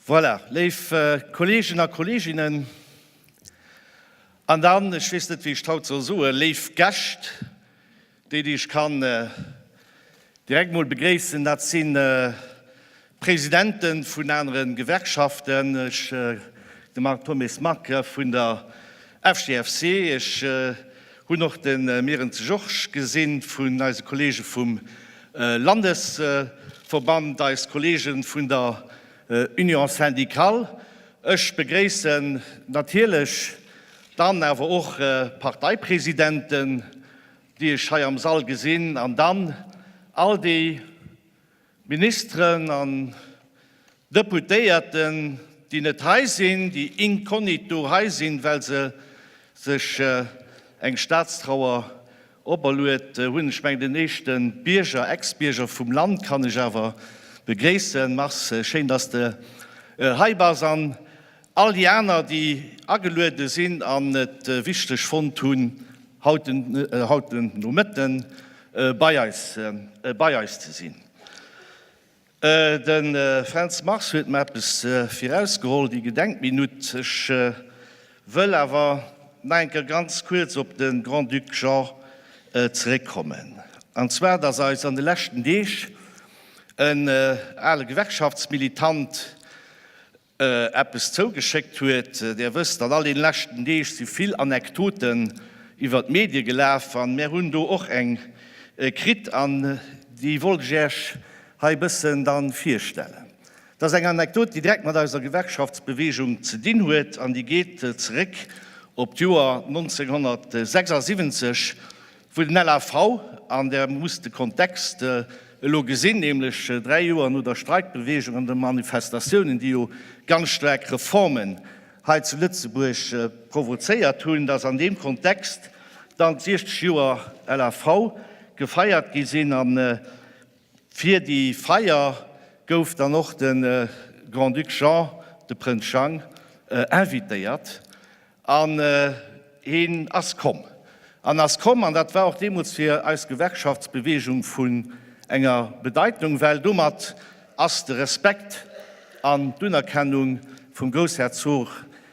Voilà, léif Kolleegen a Kolleeginnen, an dann, ech weess net, wéi ech d'haut soll soen, léif Gäscht, Déi, déi ech kann direkt emol begréissen, dat si Presidente vun anere Gewerkschaften. Ech, de Marc Thomes, Marc, vun der FGFC. Ech hunn och de Myren ze Jorsch gesinn vun eise Kollege vum Landesverband, eis Kollege vun der Union syndicale. Ech begréissen natierlech Dann awer och Parteipresidenten, déi ech hei am Sall gesinn, an dann all déi Ministeren an Deputéierten, déi net hei sinn, déi incognito hei sinn, well se sech eng Staatstrauer operluet hunn. Ech mengen, den éischte Bierger, Ex-Bierger vum Land kann ech awer begréissen. Mars, schéin, dass de hei bass. An All déi aner, déi ageluede sinn an et wichteg fonnt hunn, haut den Nomëtte bei eis ze sinn. De Fränz Mars huet mer eppes virausgeholl, déi Gedenkminutt. Ech wëll awer nach eng Kéier ganz kuerz op de Grand-Duc Jean zeréckkommen. An zwar, dass eis an de leschten Deeg en ale Gewerkschaftsmilitant, eppes zougeschéckt huet. Där wësst, an all den leschten Deeg si vill Anekdoten iwwer d'Medie gelaf an mär hunn do och eng kritt an déi wollt ech Äech hei e bëssen dann virstellen. Dat ass eng Anekdot, déi direkt mat eiser Gewerkschaftsbewegung ze dinn huet an déi geet zeréck op d'Joer 1976, Wou den LAV, an Der musst de Kontext elo gesinn, nämlech dräi Joer no der Streikbeweegung an de Manifestatiounen, déi jo ganz staark Reformen hei zu Lëtzebuerg provozéiert hunn, dass an deem Kontext dann d'siechzeg Joer LAV gefeiert gi sinn. A fir déi Feier gouf dann och de Grand-Duc Jean, de Prënz Jang, invitéiert. An heen ass komm. En ass komm, an dat war och deemools fir eis Gewerkschaftsbeweegung vun enger Bedeitnung, well domat ass de Respekt an d'Unerkennung vum Groussherzog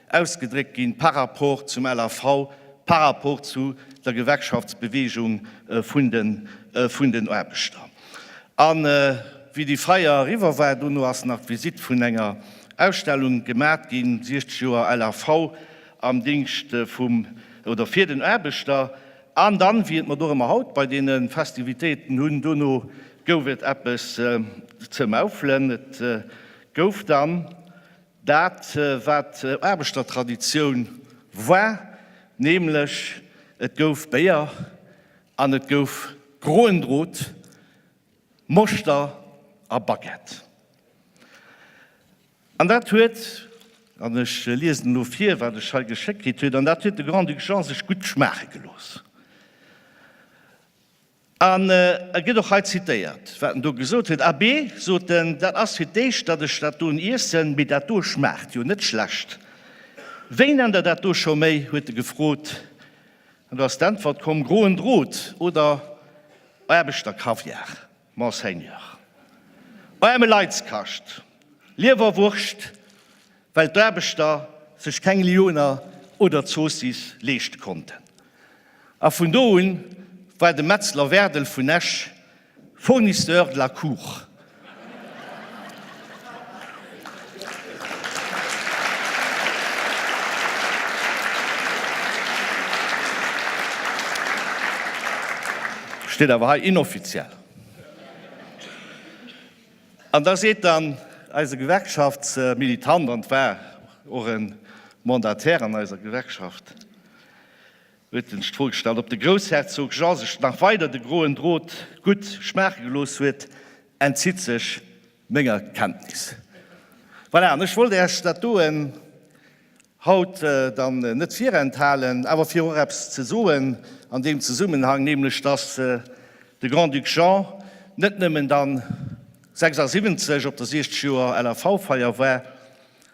ausgedréckt ginn par rapport zum LAV, par rapport zu der Gewerkschaftsbeweegung vun den Aarbechter. A wéi déi Feier eriwwer war, dono ass nach d'Visitt vun enger Ausstellung gemat ginn, 60 Joer LAV am Dingscht vum, oder fir den Aarbechter. An dann, wéi et mer dorëmmer haut bei deene Festivitéiten hunn, dono gouf et eppes ze maufelen. Et gouf dann dat, wat Aarbechtertraditioun war, nämlech et gouf Béier An et gouf groen Drot, Moschter a Baguette. An dat huet, an ech liesen elo vir, wat ech hei geschéckt kritt huet, an dat huet de Grand-Duc Jean sech gutt schmaache gelooss. An e gëtt och hei zitéiert, wat en do gesot huet, Abbé, sot en, dat ass fir d'éischt, datt ech dat doen iessen, mee dat do schmaacht jo net schlecht. Wéinenn der dat do scho méi? huet e gefrot. An do ass d'Äntwert komm, groen Drot oder Aarbechterkaviar, Monseigneur. Aarme Leitskascht, Liewerwurscht, well d'Aarbechter sech keng Lyoner oder Zoossiss leeschte konnten. A vun do un war de Metzler Wäerdel vun Esch Fournisseur de la Cour. Steet awer hei inoffiziell. An da seet dann eise Gewerkschaftsmilitant, an et war och e Mandataire an eiser Gewerkschaft, huet en sech d'Fro gestallt, ob de Groussherzog Jean sech nach weider de groen Drot gutt schmaache gelooss huet, entzitt sech menger Kenntnis. Voilà, an ech wollt Äech dat doen, haut dann net virenthalen, awer fir och eppes ze soen an deem Zesummenhang, nämlech dass de Grand-Duc Jean net nëmmen dann 76 op der 60 Joer LAV-Feier war,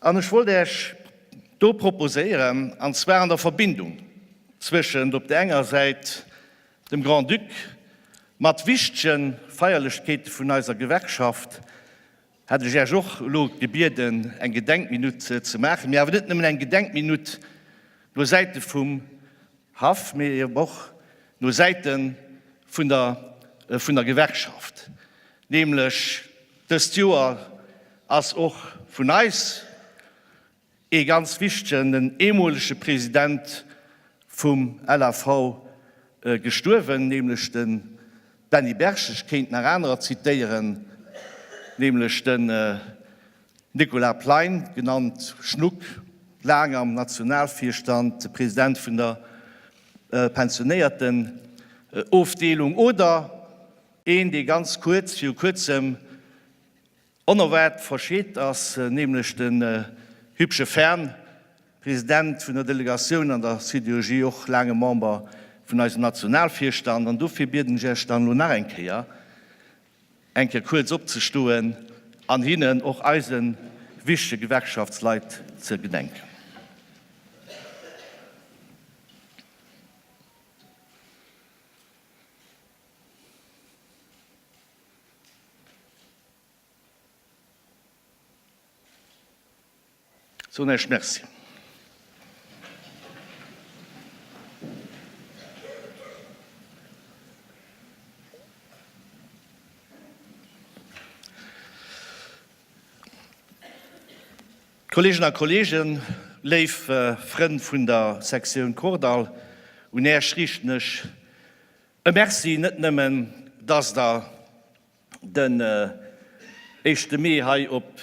An ech wollt Äech do proposéieren, an zwar an der Verbindung zwëschent op der enger Säit dem Grand-Duc mat wichtege Feierlechkeete vun eiser Gewerkschaft, hätt ech Äech och elo gebieden, eng Gedenkminutt ze maachen, mee awer net nëmmen eng Gedenkminutt no Säite vum Haff, mee eeben och no Säite vun der vun der Gewerkschaft, nämlech dëst Joer ass och vun eis ee ganz wichtegen, den eemolege President vum LAV gestuerwen, nämlech de Benny Berg. Ech kéint nach anerer zitéieren, nämlech de. Nicolas Plein, genannt Schnuck, laang am Nationalvirstand, President vun der Pensionéiertenofdeelung, oder een, dee ganz kuerz viru kuerzem onerwaart verscheet ass, nämlech de hübsche Fern, President vun der Delegatioun an der Sidérurgie, och laange Member vun eisem Nationalvirstand. An dofir bieden ech Iech dann elo nach eng Kéier, eng Kéier kuerz opzestoen an hinnen, och eise wichtege Gewerkschaftsleit, ze gedenken. Soen Esch Merci. Kolleegen a Kolleegen, léif Frënn vun der Sektioun Kordall, un Äech riichten ech e Merci, net nëmmen dass der den éischte Mee hei op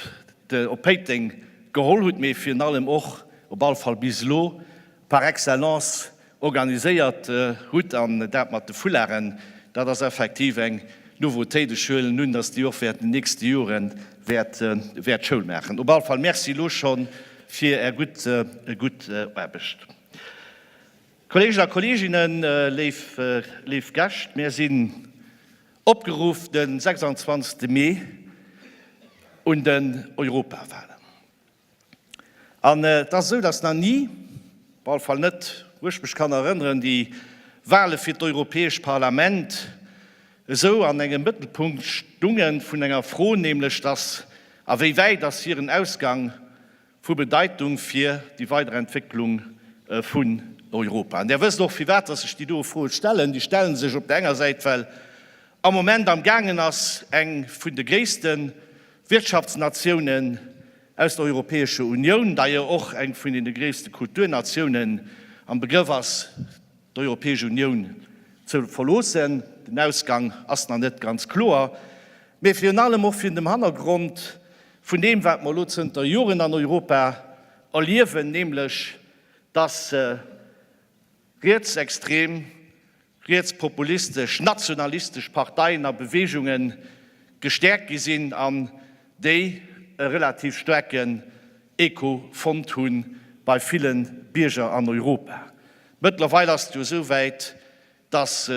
Péiteng geholl hutt, mee virun allem och, op alle Fall bis elo, par excellence organiséiert hutt. An dat mat de Foularden, dat ass effektiv eng Nouveauté. De Schuel nun, datt déi och wäert an den nächste Jore wäert Schoul maachen. Op alle Fall Merci elo scho fir Är gutt Aarbecht. Kolleegen a Kolleeginnen, léif Gäscht, mir sinn Opgeruff de 26 Mee un den Europawahlen. An et ass esou, datt nach ni, op alle Fall net wou ech mech kann erënneren, déi Wahle fir d'Europäescht Parlament esou an engem Mëttelpunkt stunge vun enger Fro, nämlech datt, a wéi wäit ass hiren Ausgang, vu Bedeitung fir déi weider Entwécklung vun Europa. An Der wësst och, firwat dass ech déi doe Froe stellen. Déi stelle sech op der enger Säit, well am Moment am gaangen ass, eng vun de gréisste Wirtschaftsnatiounen aus der Europäescher Unioun, d'ailleurs och eng vun deene gréisste Kulturnatiounen, am Begrëff ass, d'Europäesch Unioun ze verloossen. Den Ausgang ass nach net ganz kloer. Mee virun allem och virun dem Hannergrond, vun deem wat mer elo zënter Joren an Europa erliewen, nämlech datt rietsextrem, rietspopulistesch, nationalistesch Parteien a Beweegunge gestäerkt gi sinn an déi e relativ staarken Echo fonnt hu bei ville Bierger an Europa. Mëttlerweil ass et jo esou wäit, dass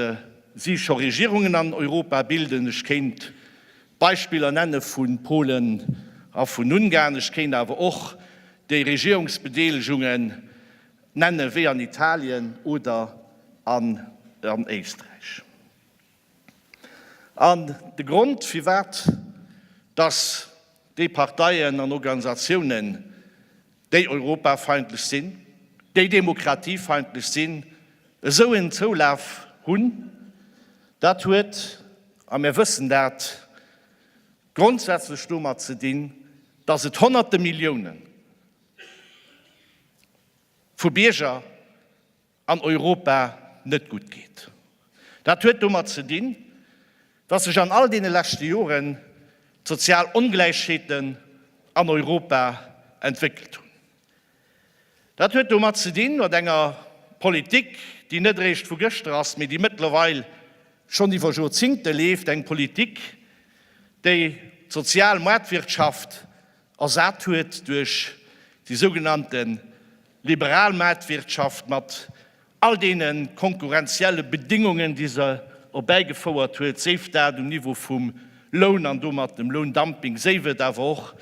si scho Regierungen an Europa bilden, ech kéint Beispiller nenne vu Polen a vun Ungarn, ech kéint awer och déi Regierungsbedeelegungen nenne wéi an Italien oder an Éisträich. An de Grond firwat dass déi Parteien an Organisatiounen déi europafeindlech sinn, déi demokratiefeindlech sinn, esou en Zoulaf hunn, dat huet, a mir wëssen dat, grondsätzlech domat ze dinn, datt et Honnerte Millioune vu Bierger, an Europa net gutt geet. Dat huet domat ze dinn, datt sech an all deene leschte Joren d'sozial Ongläichheeten an Europa entwéckelt hunn. Dat huet domat ze dinn, mat enger Politik, déi net eréischt vu gëschter ass, mee déi mëttlerweil schonn iwwer Jorzingte leeft, eng Politik, déi d'sozial Maartwirtschaft ersat huet duerch déi sougenannte Liberal Maartwirtschaft mat all deene konkurrenzielle Bedingungen, déi se erbäigefouert huet, séif dat um Niveau vum Loun an domat dem Loundumping, séif et awer och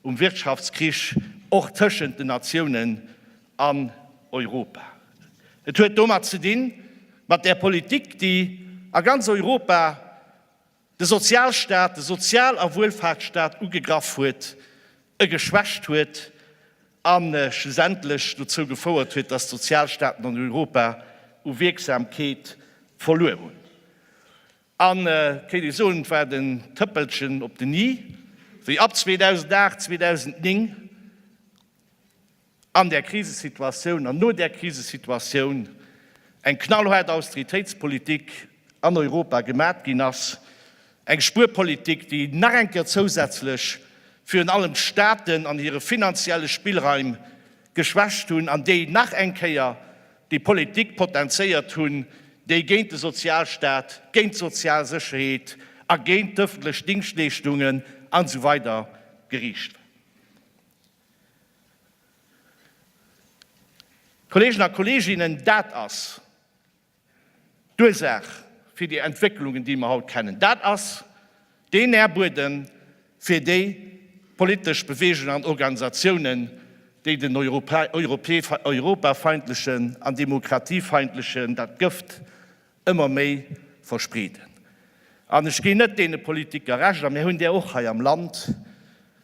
um Wirtschaftskrich, och tëschent den Natiounen an Europa. Et huet domat ze dinn, mat där Politik, déi a ganz Europa, de Sozialstaat, de Sozial a Wuelfaartsstaat ugegraff huet, e geschwächt huet a schlussendlech dozou gefouert huet, datt d'Sozialstaaten an Europa u Wierksamkeet verluer hunn. An, kéint ee soen, et war den Tëppelchen op den i, wéi ab 2008, 2009, an där Krisesituatioun an no där Krisesituatioun eng knallhaart Austeritéitspolitik an Europa gemat ginn ass, eng Spuerpolitik, déi nach eng Kéier zousätzlech virun allem d'Staaten an hire finanzielle Spillraim geschwächt hunn an déi nach eng Kéier déi Politik potenzéiert hunn, déi géint de Sozialstaat, géint d'sozial Sécherheet a géint d'öffentlech Dingschtleeschtungen an esou weider geriicht war. Kolleegen a Kolleeginnen, dat ass d'Ursaach fir déi Entwécklungen, déi mer haut kennen. Dat ass deen Nährbuedem fir déi politesch Beweegungen an Organisatiounen, déi den europafeindlechen an demokratiefeindlechen, dat Gëft ëmmer méi verspreeden. An ech ginn net deene Politiker Recht, a mir hunn där och hei am Land,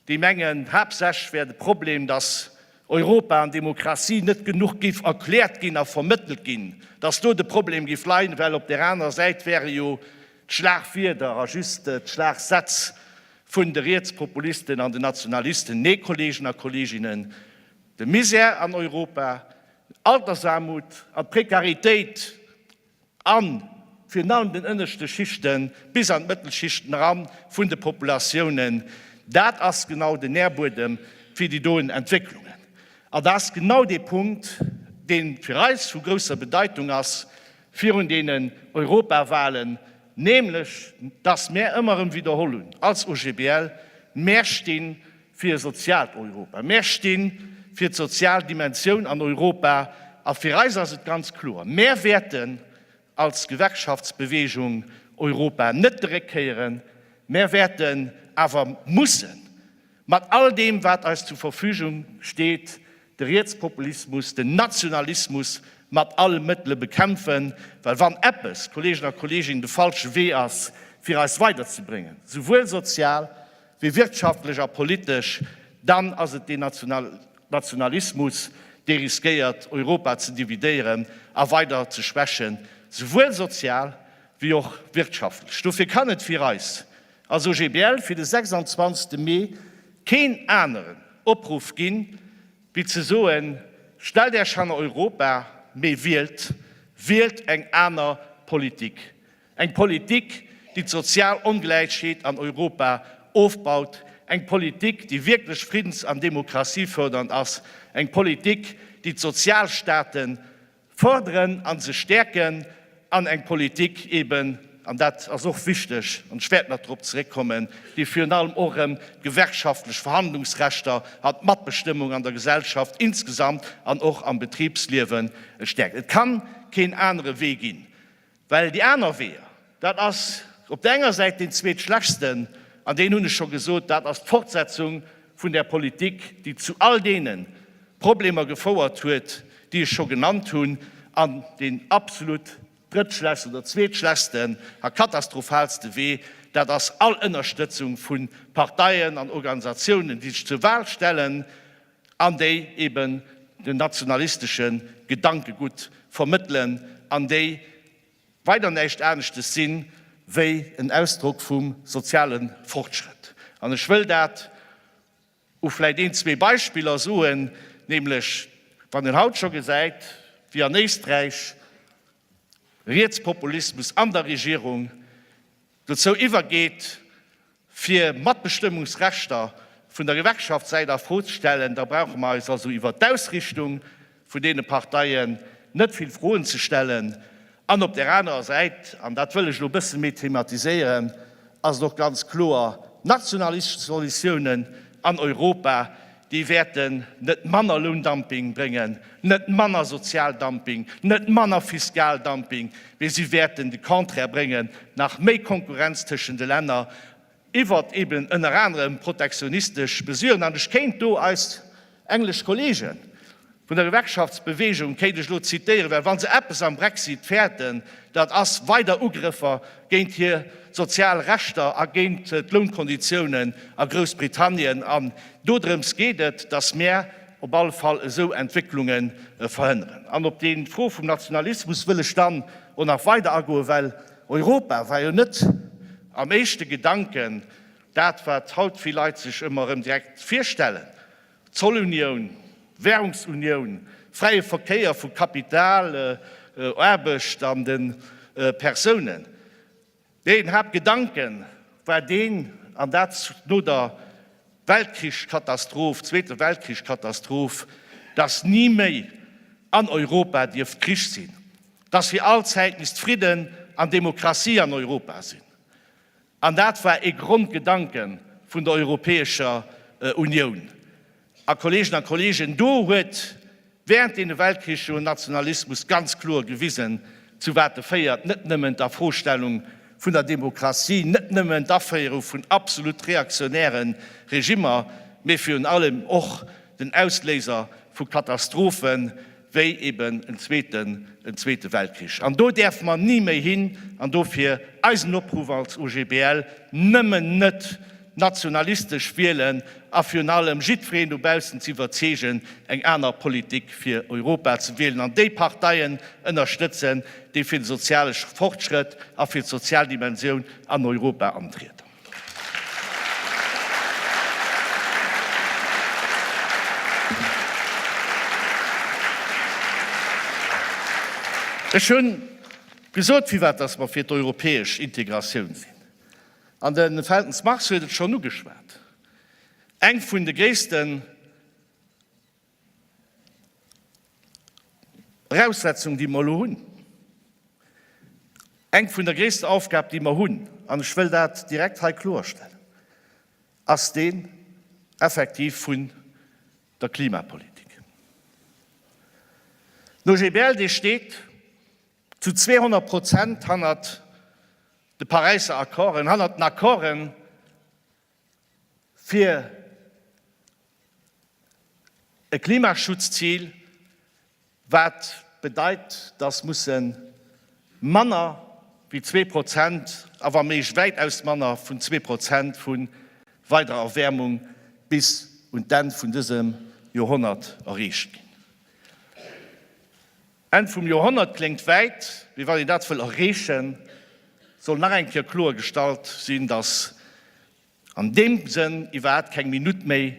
déi mengen, haaptsächlech wär de Problem, datt Europa an Demokratie net genuch géif erkläert ginn a vermëttelt ginn, datt do de Problem géif leien, well op där anerer Säit wäre jo d'Schlagwierder a just d'Schlagsätz vun de Rietspopulisten an de Nationalisten. Nee, Kolleegen a Kolleeginnen, de Misär an Europa, Altersaarmut a Prekaritéit a virun allem den ënneschte Schichte bis an d'Mëttelschichten eran vun de Populatiounen, dat ass genau den Nährbuedem fir déi doen Entwécklungen. An dat ass genau dee Punkt, dee fir eis vu grousser Bedeitung ass virun deenen Europawahlen, nämlech dass mär ëmmer erëm widderholl hunn als OGBL, mär sti Fir e soziaalt Europa. Mär sti fir d'sozial Dimensioun an Europa a fir eis ass et ganz kloer, mär wäerten als Gewerkschaftsbeweegung Europa net de Réck kéieren, mär wäerten awer mussen, mat all deem wat eis zur Verfügung steet, de Rietspopulismus, den Nationalismus mat alle Mëttele bekämpfen, well wann eppes, Kolleegen a Kolleeginnen, de falsche Wee ass fir eis weiderzebréngen, souwuel sozial wéi wirtschaftlech a politesch, dann ass et deen Nationalismus, dee riskéiert, Europa ze dividéieren a weider ze schwächen, souwuel sozial wéi och wirtschaftlech. Dofir kann et fir eis als OGBL fir de 26 Mee keen aneren Opruff ginn, wéi ze soen, Stellt Äerch hanner Europa, mee wielt, wielt eng aner Politik! Eng Politik, déi d'sozial Ongläichheet an Europa ofbaut, eng Politik, déi wierklech friddens an demokratiefördernd ass, eng Politik, déi d'Sozialstaate fördern an se stäerken, an eng Politik eben, an dat ass och wichteg, an ech wäert nach dorop zeréckkommen, déi virun allem och erëm d'gewerkschaftlech Verhandlungsrechter an d'Matbestëmmung an der Gesellschaft insgesamt an och am Betribsliewen stäerkt. Et ka keen anere Wee ginn. Well déi aner Weeër, dat ass op der enger Säit deen Zweetschlechtsten, an deen hunn ech scho gesot, dat ass d'Fortsetzung vun där Politik, déi zu all deene Problemer gefouert huet, déi ech scho genannt hunn. An deen absolut drëttschlechsten oder zweetschlechsten a katastrophalste Wee, dat ass all Ënnerstëtzung vu Parteien an Organisatiounen, déi sech zur Wal stellen, an déi eben den nationalistesche Gedankegutt vermëttelen an déi weider näischt aneschtes si wéi en Ausdrock vum soziale Fortschrëtt. An ech wëll dat u vläicht een, zwee Beispiller soen, nämlech wann een haut scho gesäit, wéi an Éisträich Rietspopulismus an der Regierung dozou iwwergeet, fir Matbestëmmungsrechter vun der Gewerkschaftssäit a Fro ze stellen, da brauche mer eis also iwwert d'Ausrichtung vun deene Parteien net vill Froen ze stellen. An op där anerer Säit, an dat wëll ech elo e bësse méi thematiséieren, ass et och ganz kloer, Nationalistesch Solutiounen an Europa Déi wäerten net manner Loundumping bréngen, net manner Sozialdumping, net manner Fiskaldumping, mee si wäerten de Contraire bréngen, nach méi Konkurrenz tëschent de Länner iwwert eben ënner anerem protektionistesch Mesuren. An ech kéint do eis englesch Kollegen, Vun der Gewerkschaftsbewegung kéint ech elo zitéieren, well wa se eppes am Brexit fäerten, dat ass weider Ugrëffer géint hir sozial Rechter a géint d'Lounkonditiounen a Groussbritannien. An dodrëms geet et, datt mär op alle Fall esou Entwécklunge verhënneren. An op déi Fro vum Nationalismus wëll ech dann och nach weider agoen, well Europa war jo net am éischte Gedanken dat, wat haut vill Leit sech ëmmer erëm direkt virstellen. Zollunioun, Währungsunioun, fräie Verkéier vu Kapital, Aarbecht an de Persounen. Deen Haaptgedanke war deen, an dat no der Weltkrichskatastroph, Zweete Weltkrichskatastroph, dass ni méi an Europa dierft Krich sinn, dass fir all Zäit misst Fridden an Demokratie an Europa sinn. An dat war ee Grondgedanke vun der Europäescher Unioun. A Kolleegen a Kolleegen, do huet während deene Weltkriche jo en Nationalismus ganz kloer gewisen, zu wat e féiert, net nëmmen d'Afrostellung vun der Demokratie, net nëmmen d'Aféierung vun absolut reaktionäre Regimmer, mee virun allem och den Ausléiser vu Katastrophen, wéi eben en zweeten, en zweete Weltkrich. An do däerfe mer ni méi hin. An dofir eisen Opruff als OGBL, Nëmmen net nationalistesch wielen a virun allem jiddwereen dobaussen ze iwwerzeegen, eng aner Politik fir Europa ze wielen an déi Parteien ënnerstëtzen, déi fir de soziale Fortschrëtt a fir d'sozial Dimensioun an Europa antrieden. Ech hunn gesot, firwat dass mer fir d'europäesch Integratioun sinn. An de Feltens Mars huet et schonn ugeschwat, Eng vun de gréissten Eraussetzung, déi mer elo hunn, eng vun der gréissten Aufgab, déi mer hunn, an ech wëll dat direkt hei kloerstellen, ass déi effektiv vun der Klimapolitik. Den OGBL, dee steet zu 200 Prozent hannert de Paräiser Accorden, hannert den Accorden, fir e Klimaschutzzil, wat bedeit, dass musse manner wéi zwee Prozent, a wa méiglech wäitaus manner wéi zwee Prozent vu weiderer Erwäermung bis un d'Enn vun dësem Joerhonnert erreecht ginn. Enn vum Joerhonnert kléngt wäit, mee wann een dat wëll erreechen, soll nach eng Kéier kloer gestallt sinn, datt an deem Sënn iwwerhaapt keng Minutt méi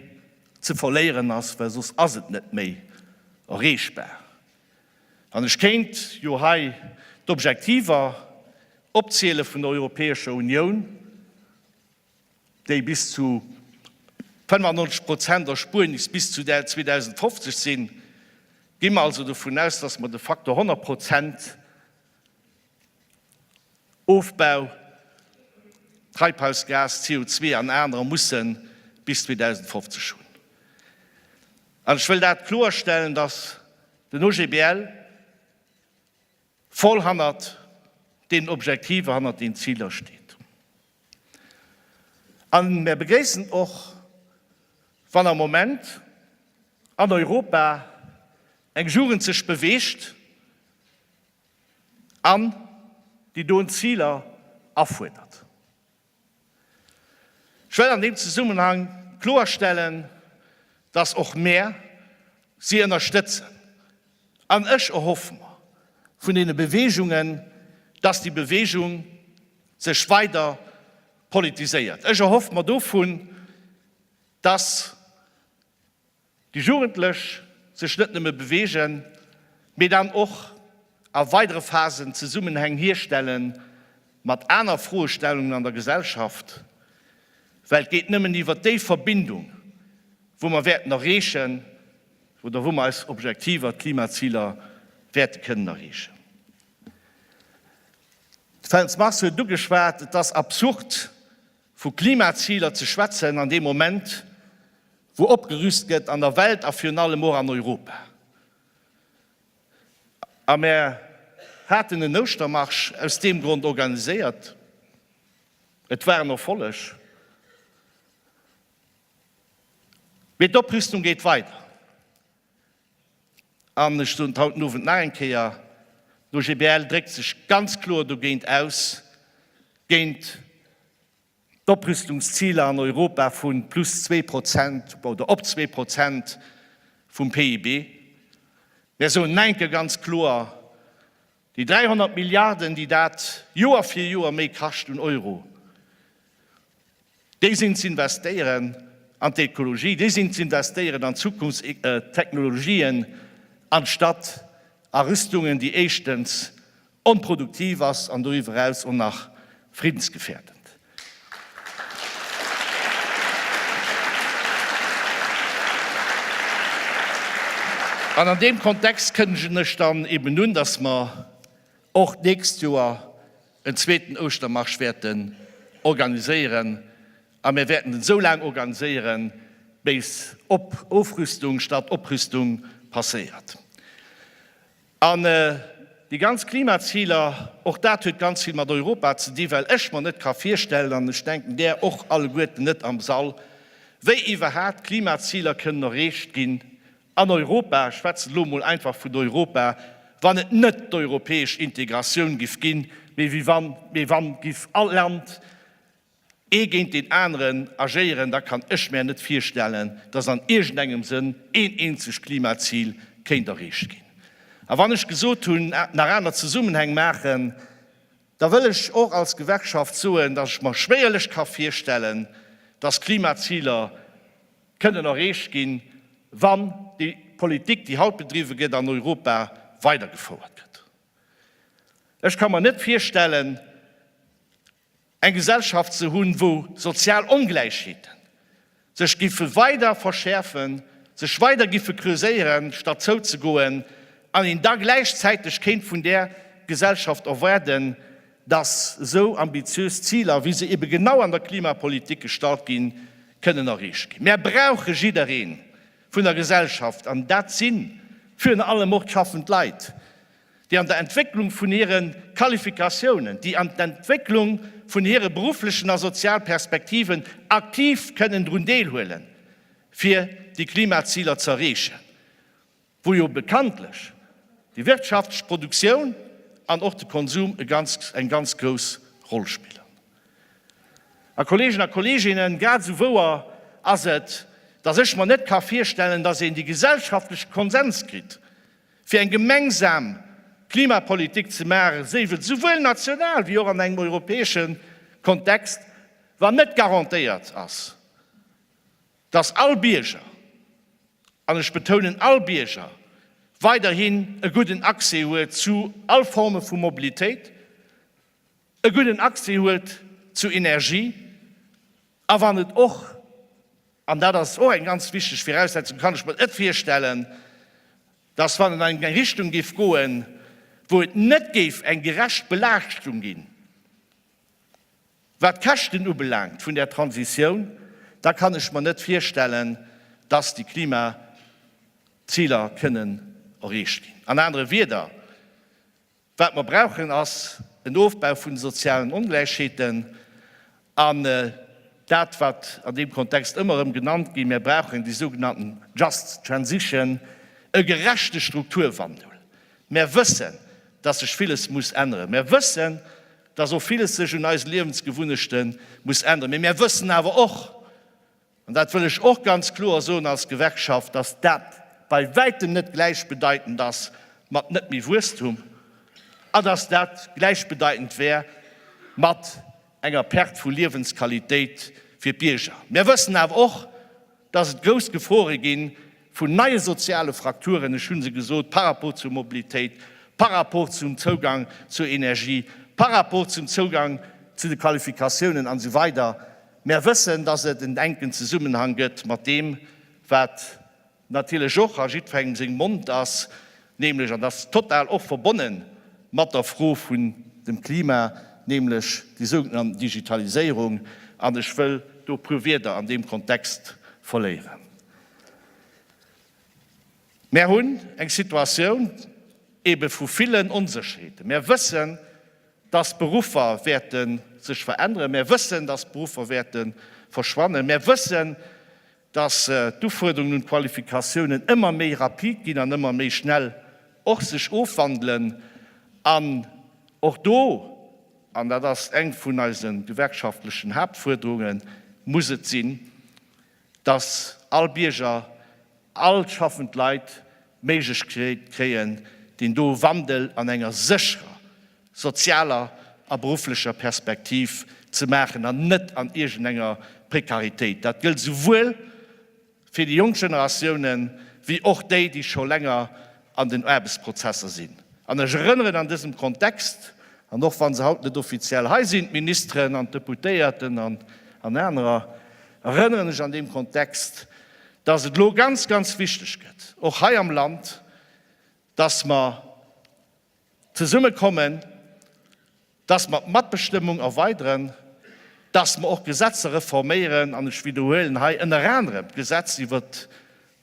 ze verléieren ass, well soss ass et net méi erreechbar. An ech kéint jo hei d'Objektiver opziele vun der Europäescher Unioun. déi bis zu 95 Prozent Erspuernis bis zu 2050 sinn, gi mer also dovun aus, dass mer de Faktor 100 Prozent Ofbau, Treibhausgas, CO an anerer, mussen bis 2050 hunn. An ech wëll dat kloerstellen, dass den OGBL, voll hannert deenen Objektiver, hannert deenen Ziler steet. A mär begréissen och, wann am Moment an Europa eng Jugend sech beweegt an déi doen Ziler afuerdert. Ech wëll an deem Zesummenhang kloerstellen, dass och mär si ënnerstëtzen. An ech erhoffe mer vun deene Beweegungen, dass déi Beweegung sech weider politiséiert. Ech erhoffe mer dovun, dass. Déi Jugendlech sech net nëmme beweegen, mee dann och a weidere Phasen Zesummenhäng hierstelle mat aner Froestellungen an der Gesellschaft, well et geet nëmmen iwwert déi Verbindung, wou mer wäerten erreechen oder wou mer eis Objektiver, d'Klimaziler, wäerte kënnen erreechen. De Feltz Mars huet et ugeschwat, Et ass absurd, vu Klimaziler ze schwätzen an deem Moment, Wou opgerüst gëtt an der Welt a virun allem och an Europa. A mär haten en Ouschtermarsch aus deem Grond organiséiert. Et war en Erfolleg. Mee d'Oprüstung geet weider. An ech soen et haut den Owend nach eng Kéier, d'OGBL dréckt sech ganz kloer dogéint aus, géint D'Oprüstungsziler an Europa vu plus zwee Prozent oder op zwee Prozent vum PIB, mär soen Neinke ganz kloer. Déi 300 Milliarden, déi dat Joer fir Joer méi kascht un Euro, déi sinn z'investéieren an d'Ekologie, déi sinn z'investéieren an Zukunftstechnologien anstatt a Rüstungen, déi éischtens onproduktiv ass an doriwwer eraus och nach friddensgefährdend. An an deem Kontext kënnegen ech dann eben un, dass mer och d'nächst Joer en zweeten Ouschtermarsch wäerten organiséieren, a mir wäerten en esou laang organiséieren, béis Op Ofrüstung statt Oprüstung passéiert. An déi ganz Klimaziler, och dat huet ganz vill mat Europa ze di well ech mer net ka virstellen, an ech denken där och alleguerten net am Sall, wéi iwwerhaapt Klimaziler kënnen erreecht ginn an Europa, ech schwätzen elo emol einfach vun Europa, wann et net d'europäesch Integratioun giff ginn, mee wann giff all Land, ee géint deen aneren agéieren, da kann ech mär net virstellen, dass an iergendengem Sënn een eenzegt Klimazil kéint erreecht ginn. A wann ech gesot hunn, nach aner Zesummenhäng maachen, da wëll ech och als Gewerkschaft soen, dass ech mer schwéierlech ka virstellen, dass Klimaziler kënnen erreecht ginn, wann déi Politik, déi haut bedriwwe gëtt an Europa, weidergefouert gëtt. Ech ka mer net virstellen, Eng Gesellschaft ze hunn, wou sozial Ongläichheeten sech giffe weider verschäerfen, sech weider giffe creuséieren, statt zouzegoen, an een da gläichzäiteg kéint vun där Gesellschaft erwaarden, dass esou ambitiös Ziler, wéi se ebe genau an der Klimapolitik gestallt ginn, kënnen erreecht ginn. Mär brauche jidderee vun der Gesellschaft, an dat si virun allem och d'schaffend Leit, déi an der Entwécklung vun hire Qualifikatiounen, déi an d'Entwécklung vun hire berufflechen a sozial Perspektiven aktiv kënnen drun deelhuelen, fir déi Klimaziler ze erreechen, wou jo bekanntlech déi wirtschaftlech Produktioun an och de Konsum eng ganz grouss Roll spillen. A Kolleegen a Kolleeginnen, grad esou wouer ass et, dass ech mer net ka virstellen, dass een déi gesellschaftleche Konsens kritt, Fir eng gemengsam Klimapolitik ze maachen, séif et souwuel national wéi och an engem europäesche Kontext, wann net garantéiert ass, datt all Bierger, an ech betounen all Bierger, weiderhin e gudden Accès huet zu all Forme vu Mobilitéit, e gudden Accès huet zu Energie a wann et och, an dat ass och eng ganz wichteg Viraussetzung, kann ech mer et virstellen, dass wann et an eng Richtung géif goen, wou et net géif eng gerecht Belaaschtung ginn, wat d'Käschten ubelaangt vun där Transitioun, da kann ech mer net virstellen, dass déi Klimaziler kënnen erreecht ginn. An anere Wieder, Wat mer brauchen ass en Ofbau vun de sozialen Ongläichheeten an dat wat an deem Kontext ëmmer erëm genannt ginn, mir brauchen déi sougenannten just transition, e gerechte Strukturwandel. Mer wëssen, dass sech villes muss änneren. Mer wëssen, dass och villes sech un eise Liewensgewunnechte muss änneren. Mee mer wëssen awer och, An dat wëll ech och ganz kloer soen als Gewerkschaft, dass dat bei wäitem net gläichbedeitend ass mat net méi Wuesstum a dass dat gläichbedeitend wär mat enger Perte vu Liewensqualitéit fir d'Bierger. Mir wëssen awer och, dass et grouss Gefore gi vun neie soziale Frakturen, ech hu se gesot, par rapport zur Mobilitéit, par rapport zum Zougang zur Energie, par rapport zum Zougang zu de Qualifikatiounen an esou weider. Mär wëssen, dass et en enken Zesummenhang gëtt mat deem, wat natierlech och a jiddferengem sengem Mond ass, nämlech, an dass total och verbonne mat der Fro vun dem Klima, nämlech déi sougenannt Digitaliséierung. An ech wëll do e puer Wieder an deem Kontext verléieren. Mär hunn eng Situatioun ebe vu villen Onsécherheeten. Mär wëssen, dass d'Beruffer wäerte sech veränneren, mär wëssen, dass d'Beruffer wäerte verschwannen, mär wëssen, dass d'Ufuerderungen un d'Qualifikatiounen ëmmer méi rapid ginn an ëmmer méi schnell och sech ofwandelen. An och do, an dat ass eng vun eise gewerkschaftlechen Haaptfuerderungen, muss et sinn, dass all Bierger, all schaffend Leit d'Méiglechkeet kréien, deen do Wandel an enger sécherer sozialer a berufflecher Perspektiv ze maachen an net an iergendenger Prekaritéit. Dat gëllt souwuel fir déi jonk Generatiounen, wéi och déi, déi scho länger an den Aarbechtsprozesser sinn. An ech erënneren an dësem Kontext, an och wa se haut net offiziell hei sinn, d'Ministeren an d'Deputéierten an anerer, erënneren ech an deem Kontext, dass et elo ganz, ganz wichteg gëtt, och hei am Land, dass mer, Zesumme kommen, dass mer d'Matbestëmmung erweideren, dass mer och Gesetzer reforméieren, an ech widderhuelen hei ënner anerem d'Gesetz iwwer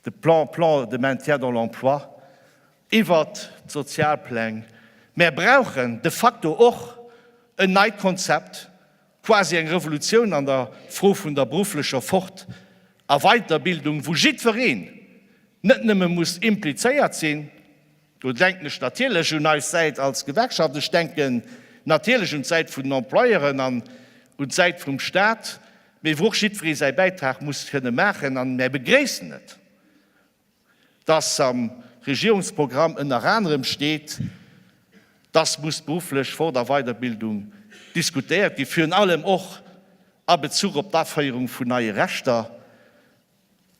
de Plan, Plan de maintien dans l'emploi, iwwer d'Sozialpläng. Mär brauchen de facto och en neit Konzept, quasi eng Revolutioun an der Fro vun der berufflecher Fort a Weiterbildung, wou jiddwereen net nëmme muss implizéiert sinn, Do denken ech natierlech un eis Säit als Gewerkschaft. Ech denken natierlech un d'Säit vun den Employeuren an un d'Säit vum Stat, mee wou och jiddweree säi Bäitrag muss kënne maachen. An mär begréissen et, dass am Regierungsprogramm ënner anerem steet, dass muss d'berufflech Fort a Weiderbildung diskutéiert ginn, virun allem och a Bezuch op d'Aféierung vun neie Rechter,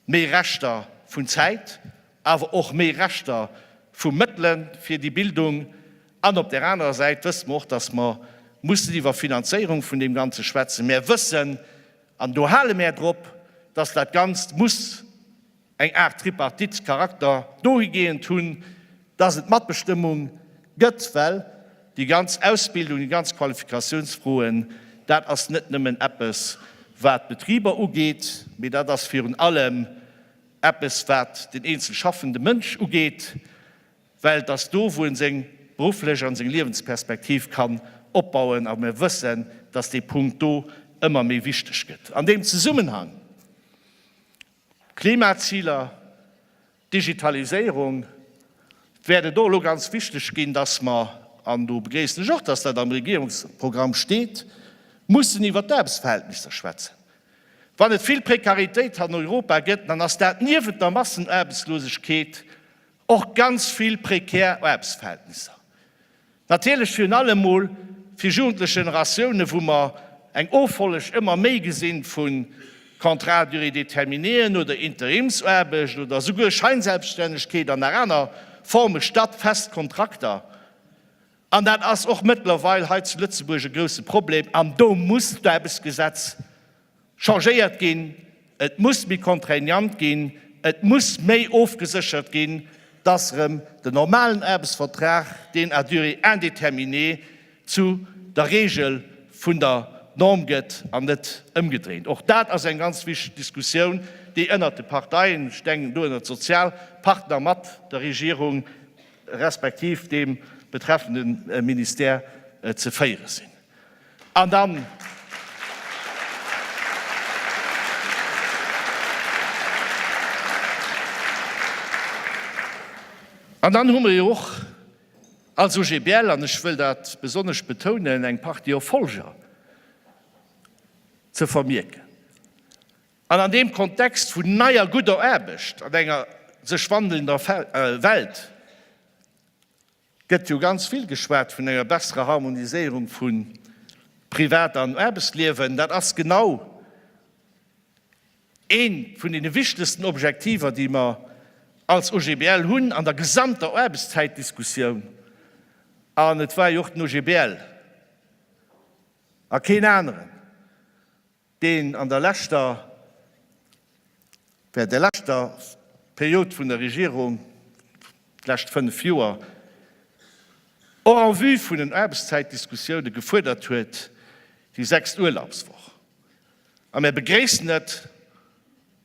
Méi Rechter vun Zäit, awer och méi Rechter vu Mëttele fir déi Bildung. An op där anerer Säit wësse mer och, dass mer mussen iwwer Finanzéierung vun deem Ganze schwätzen. Mer wëssen, an do hale mer drop, dass dat Ganzt muss eng Aart Tripartite-Charakter dohigeent hunn, dass et Matbestëmmung gëtt, well déi ganz Ausbildung, déi ganz Qualifikationsfroen, dat ass net nëmmen eppes, wat d'Betriber ugeet, mee dat ass virun allem eppes, wat den eenzel schaffende Mënsch ugeet, well et ass do, wou e seng berufflech an seng Liewensperspektiv kann opbauen. A mir wëssen, dass dee Punkt do ëmmer méi wichteg gëtt. An deem Zesummenhang, Klimaziler, Digitaliséierung wäert et och elo ganz wichteg ginn, dass mer, an do begréissen ech och, dass dat am Regierungsprogramm steet, mussen iwwert d'Aarbechtsverhältnisser schwätzen. Wann et vill Prekaritéit an Europa gëtt, dann ass dat niewent der Massenaarbechtslosegkeet och ganz vill prekär Aarbechtsverhältnisser. Natierlech virun allem emol fir jugendlech Generatiounen, wou mer eng Offolleg ëmmer méi gesinn vu Contrats à durée déterminéeën oder Interimsaarbecht oder souguer Scheinselbststännegkeet an nach aner Forme statt fest Kontrakter. An dat ass och mëttlerweil hei zu Lëtzebuerg e grousse Problem an do muss d'Aarbechtsgesetz changéiert ginn, et muss méi contraignant ginn, et muss méi ofgeséchert ginn, datt erëm den normalen Aarbechtsvertrag, deen à durée indéterminée, zu der Reegel vun der Norm gëtt an net ëmgedréint. Och dat ass eng ganz wichteg Diskussioun, déi ënnert de Parteien, ech denken do ënnert Sozialpartner mat der Regierung respektiv deem betreffende Ministère, ze féiere sinn. An dann. An dann hu mer jo och als OGBL, an ech wëll dat besonnesch betounen, eng Partie Erfolger ze vermierken. An an deem Kontext vun neier gudder Aarbecht an enger sech wandelnder Welt, gëtt jo ganz vill geschwat vun enger besserer Harmoniséierung vu Privat an Aarbechtsliewen. Dat ass genau ee vun deene wichtegsten Objektiver, déi mer als OGBL hunn an der gesamter Aarbechtszäitdiskussioun. An et war jo och den OGBL a keen aneren, deen an der leschter, während der leschter Period vun der Regierung, d'lescht fënnf Joer, och en vue vun den Aarbechtszäitdiskussioune gefuerdert huet, déi sechst Urlaubswoch. A mir begréissen et,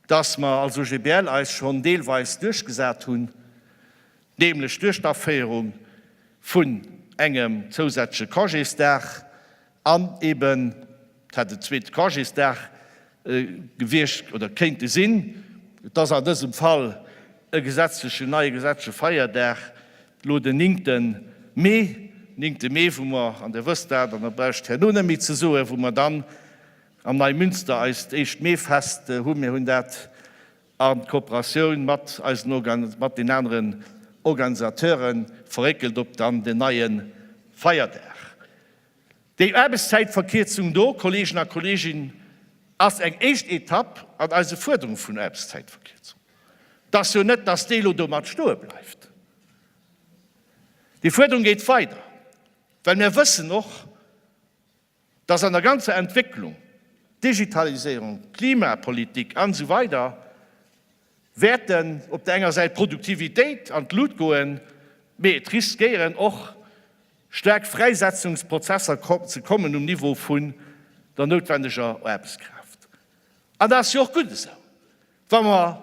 dass mer als OGBL eis schonn deelweis duerchgesat hunn, nämlech duerch d'Aféierung vun engem zousätzleche Congésdag, An eben dat en zweete Congésdag gewiescht oder kéinte sinn. Et ass an dësem Fall e gesetzlechen, neie gesetzleche Feierdag, elo den ninkte Mee, ninkte Mee, wou mer, an Der wësst dat an da brauch ech et herno net méi ze soen, wou mer dann am Neimünster eist éischt Meefest hu. Mir hunn dat An Kooperatioun mat eisen Organ, mat den aneren Organisateuren verréckelt op dann den neie Feierdag. Déi Aarbechtszäitverkierzung do, Kollegen a Kollegin, ass eng éischt Etapp an eise Fuerderunge vun Aarbechtszäitverkierzung. Et ass jo net, dass déi elo domat stoe bleift. Déi Fuerderung geet weider, well mär wëssen och, dass an der ganzer Entwécklung, Digitaliséierung, Klimapolitik an esou weider, wäerten op der enger Säit d'Produktivitéit an d'Lut goen, mee et riskéieren och staark Fräisetzungsprozesser ze kommen um Niveau vun der noutwendeger Aarbechtskraaft. An dat ass jo och gutt esou. Wa mer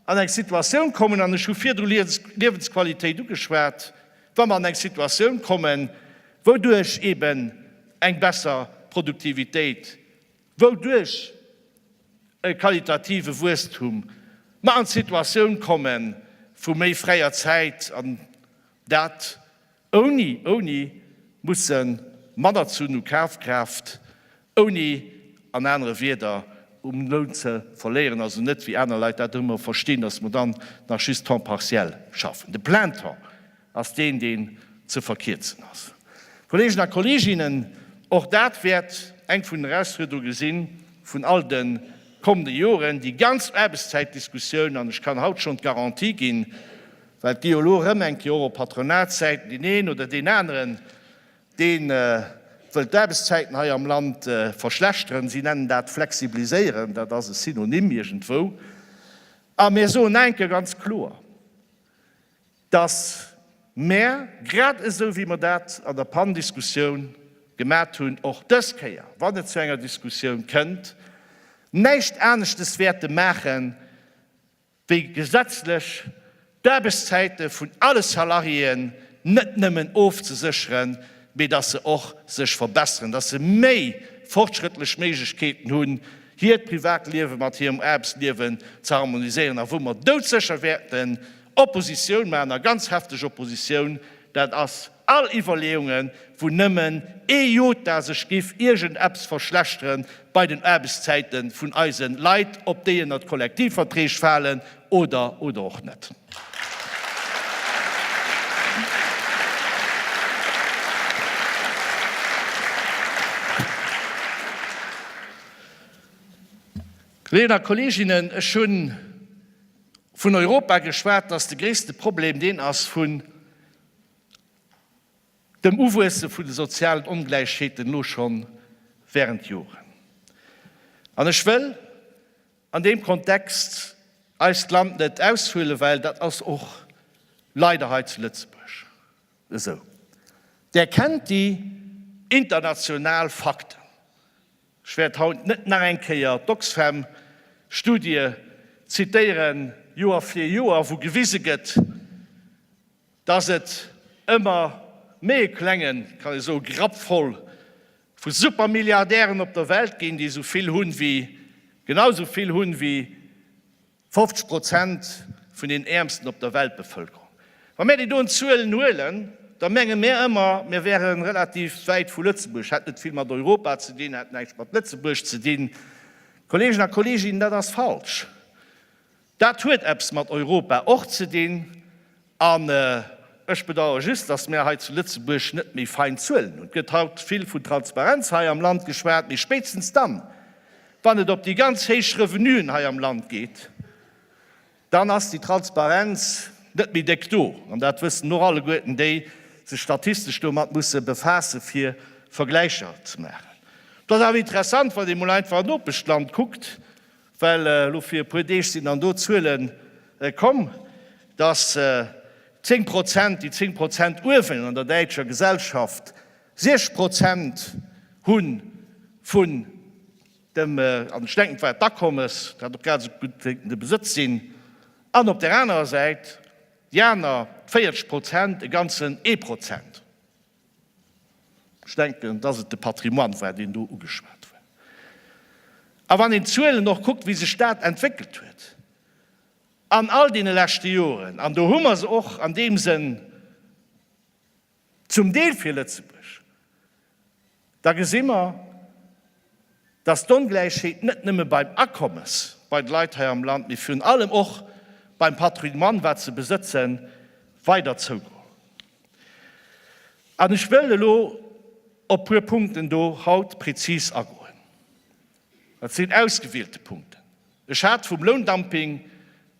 an eng Situatioun kommen, an ech hu virdru Liewensqualitéit ugeschwat, wa mer an eng Situatioun kommen, wouduerch eeben eng besser Produktivitéit, wouduerch e qualitative Wuesstum, mer an d'Situatioun komme vu méi fräier Zäit, an dat, Ouni, ouni mussen manner zu nu Kafkraaft, ouni an anere Wierder um Loun ze verléieren, also net wéi aner Leit dat ëmmer verstinn, dass mer dann nach just temps partiel schaffen. De plein temps ass deen, deen ze verkierzen ass. Kolleegen a Kolleeginnen, och dat wäert eng vun den Erausfuerderunge si vun all de kommende Joren, déi ganz Aarbechtszäitdiskussioun, an ech kann haut schonn d'Garantie ginn, Well et gi jo elo erëm eng Kéier Europatronatszäiten, deen een oder deen aneren, dee wëll d'Aarbechtszäiten hei am Land verschlechteren. Si nennen dat flexibiliséieren, dat ass e Synonym iergendwou. A mir soen eng Kéier ganz kloer, dass mer, grad esou wéi mer dat an der PAN-Diskussioun gemat hunn, och dës Kéier, wann et zu enger Diskussioun kënnt, näischt aneschtes wäerte maachen, wéi gesetzlech d'Aarbechtszäite vun alle Salariéen net nëmmen ofzesécheren, mee datt se och sech verbesseren, datt se méi fortschrëttlech Méiglechkeeten hunn, hiert Privatliewe mat hirem Aarbechtsliewe ze harmoniséieren a wou mer doudsécher wäerten Oppositioun maachen, a ganz hefteg Oppositioun, dat ass All Iwwerleeungen, wou nëmmen ee Jota sech giff iergend eppes verschlechteren bei den Aarbechtszäite vun eise Leit, ob déi ënnert d'Kollektivverträg falen oder oder och net. Kolleegen a Kolleeginnen, ech hu vun Europa geschwat, datt de gréisste Problem deen ass vun dem Uwuesse vun de sozialen Ongläichheeten no schonn während Joren. An ech wëll an deem Kontext eist Land net aushuelen, well dat ass och leider hei zu Lëtzebuerg esou. Där kennt déi international Fakten. Ech wäert haut net nach eng Kéier d'Oxfam Studie zitéieren, Joer fir Joer, wou gewise gëtt, dass et ëmmer méi e klengen, kann ee soe Grapp voll vu Supermilliardären op der Welt ginn, déi esou vill hunn, wéi genau esou vill hunn, wéi 50 Prozent vun den Äermsten op der Weltbevëlkerung. Wa mär déi doen Zuelen huelen, da menge mär ëmmer, mir wäre relativ wäit vu Lëtzebuerg, hätt net vill mat Europa ze dinn, hätt näischt mat Lëtzebuerg ze dinn. Kolleegen a Kolleeginnen, dat ass falsch. Dat huet eppes mat Europa och ze dinn, An ech bedauere just, dass mär hei zu Lëtzebuerg net méi fein Zuelen hunn. Et gëtt haut vill vun Transparenz hei am Land geschwat, mee spéitstens dann, wann et op déi ganz héich Revenuen hei am Land geet, dann ass déi Transparenz net méi déck do. An dat wëssen och alleguerten, déi sech statistesch domat musse befaassen, fir Vergläicher ze maachen. Et ass awer interessant, wann ee mol einfach an Nopeschland kuckt, Well elo fir e puer Deeg sinn dann do Zuelen komm, dass 10 Prozent, déi 10 Prozent uewen an der däitscher Gesellschaft 6 Prozent hu vun dem, an ech denken, et war d'Akommes, dat och grad esou gutt wéi de Besëtz sinn, an op där anerer Säit déi aner 40 Prozent e ganzen ee Prozent. Ech denken, dass et de Patrimoine war, deen do ugeschwat war. A wann een d'Zuelen och kuckt, wéi sech dat entwéckelt huet an all deene leschte Joren, an do hu mer se och an deem Sënn zum Deel fir Lëtzebuerg, da gesi mer, dass d'Ongläichheet net nëmme beim Akommes bei de Leit hei am Land, mee virun allem och beim Patrimoine, wat se besëtzen, weider zougoen. An ech wëll elo op puer Punkten do haut prezis agoen. Dat sinn ausgewielte Punkten. Ech hat vum Loundumping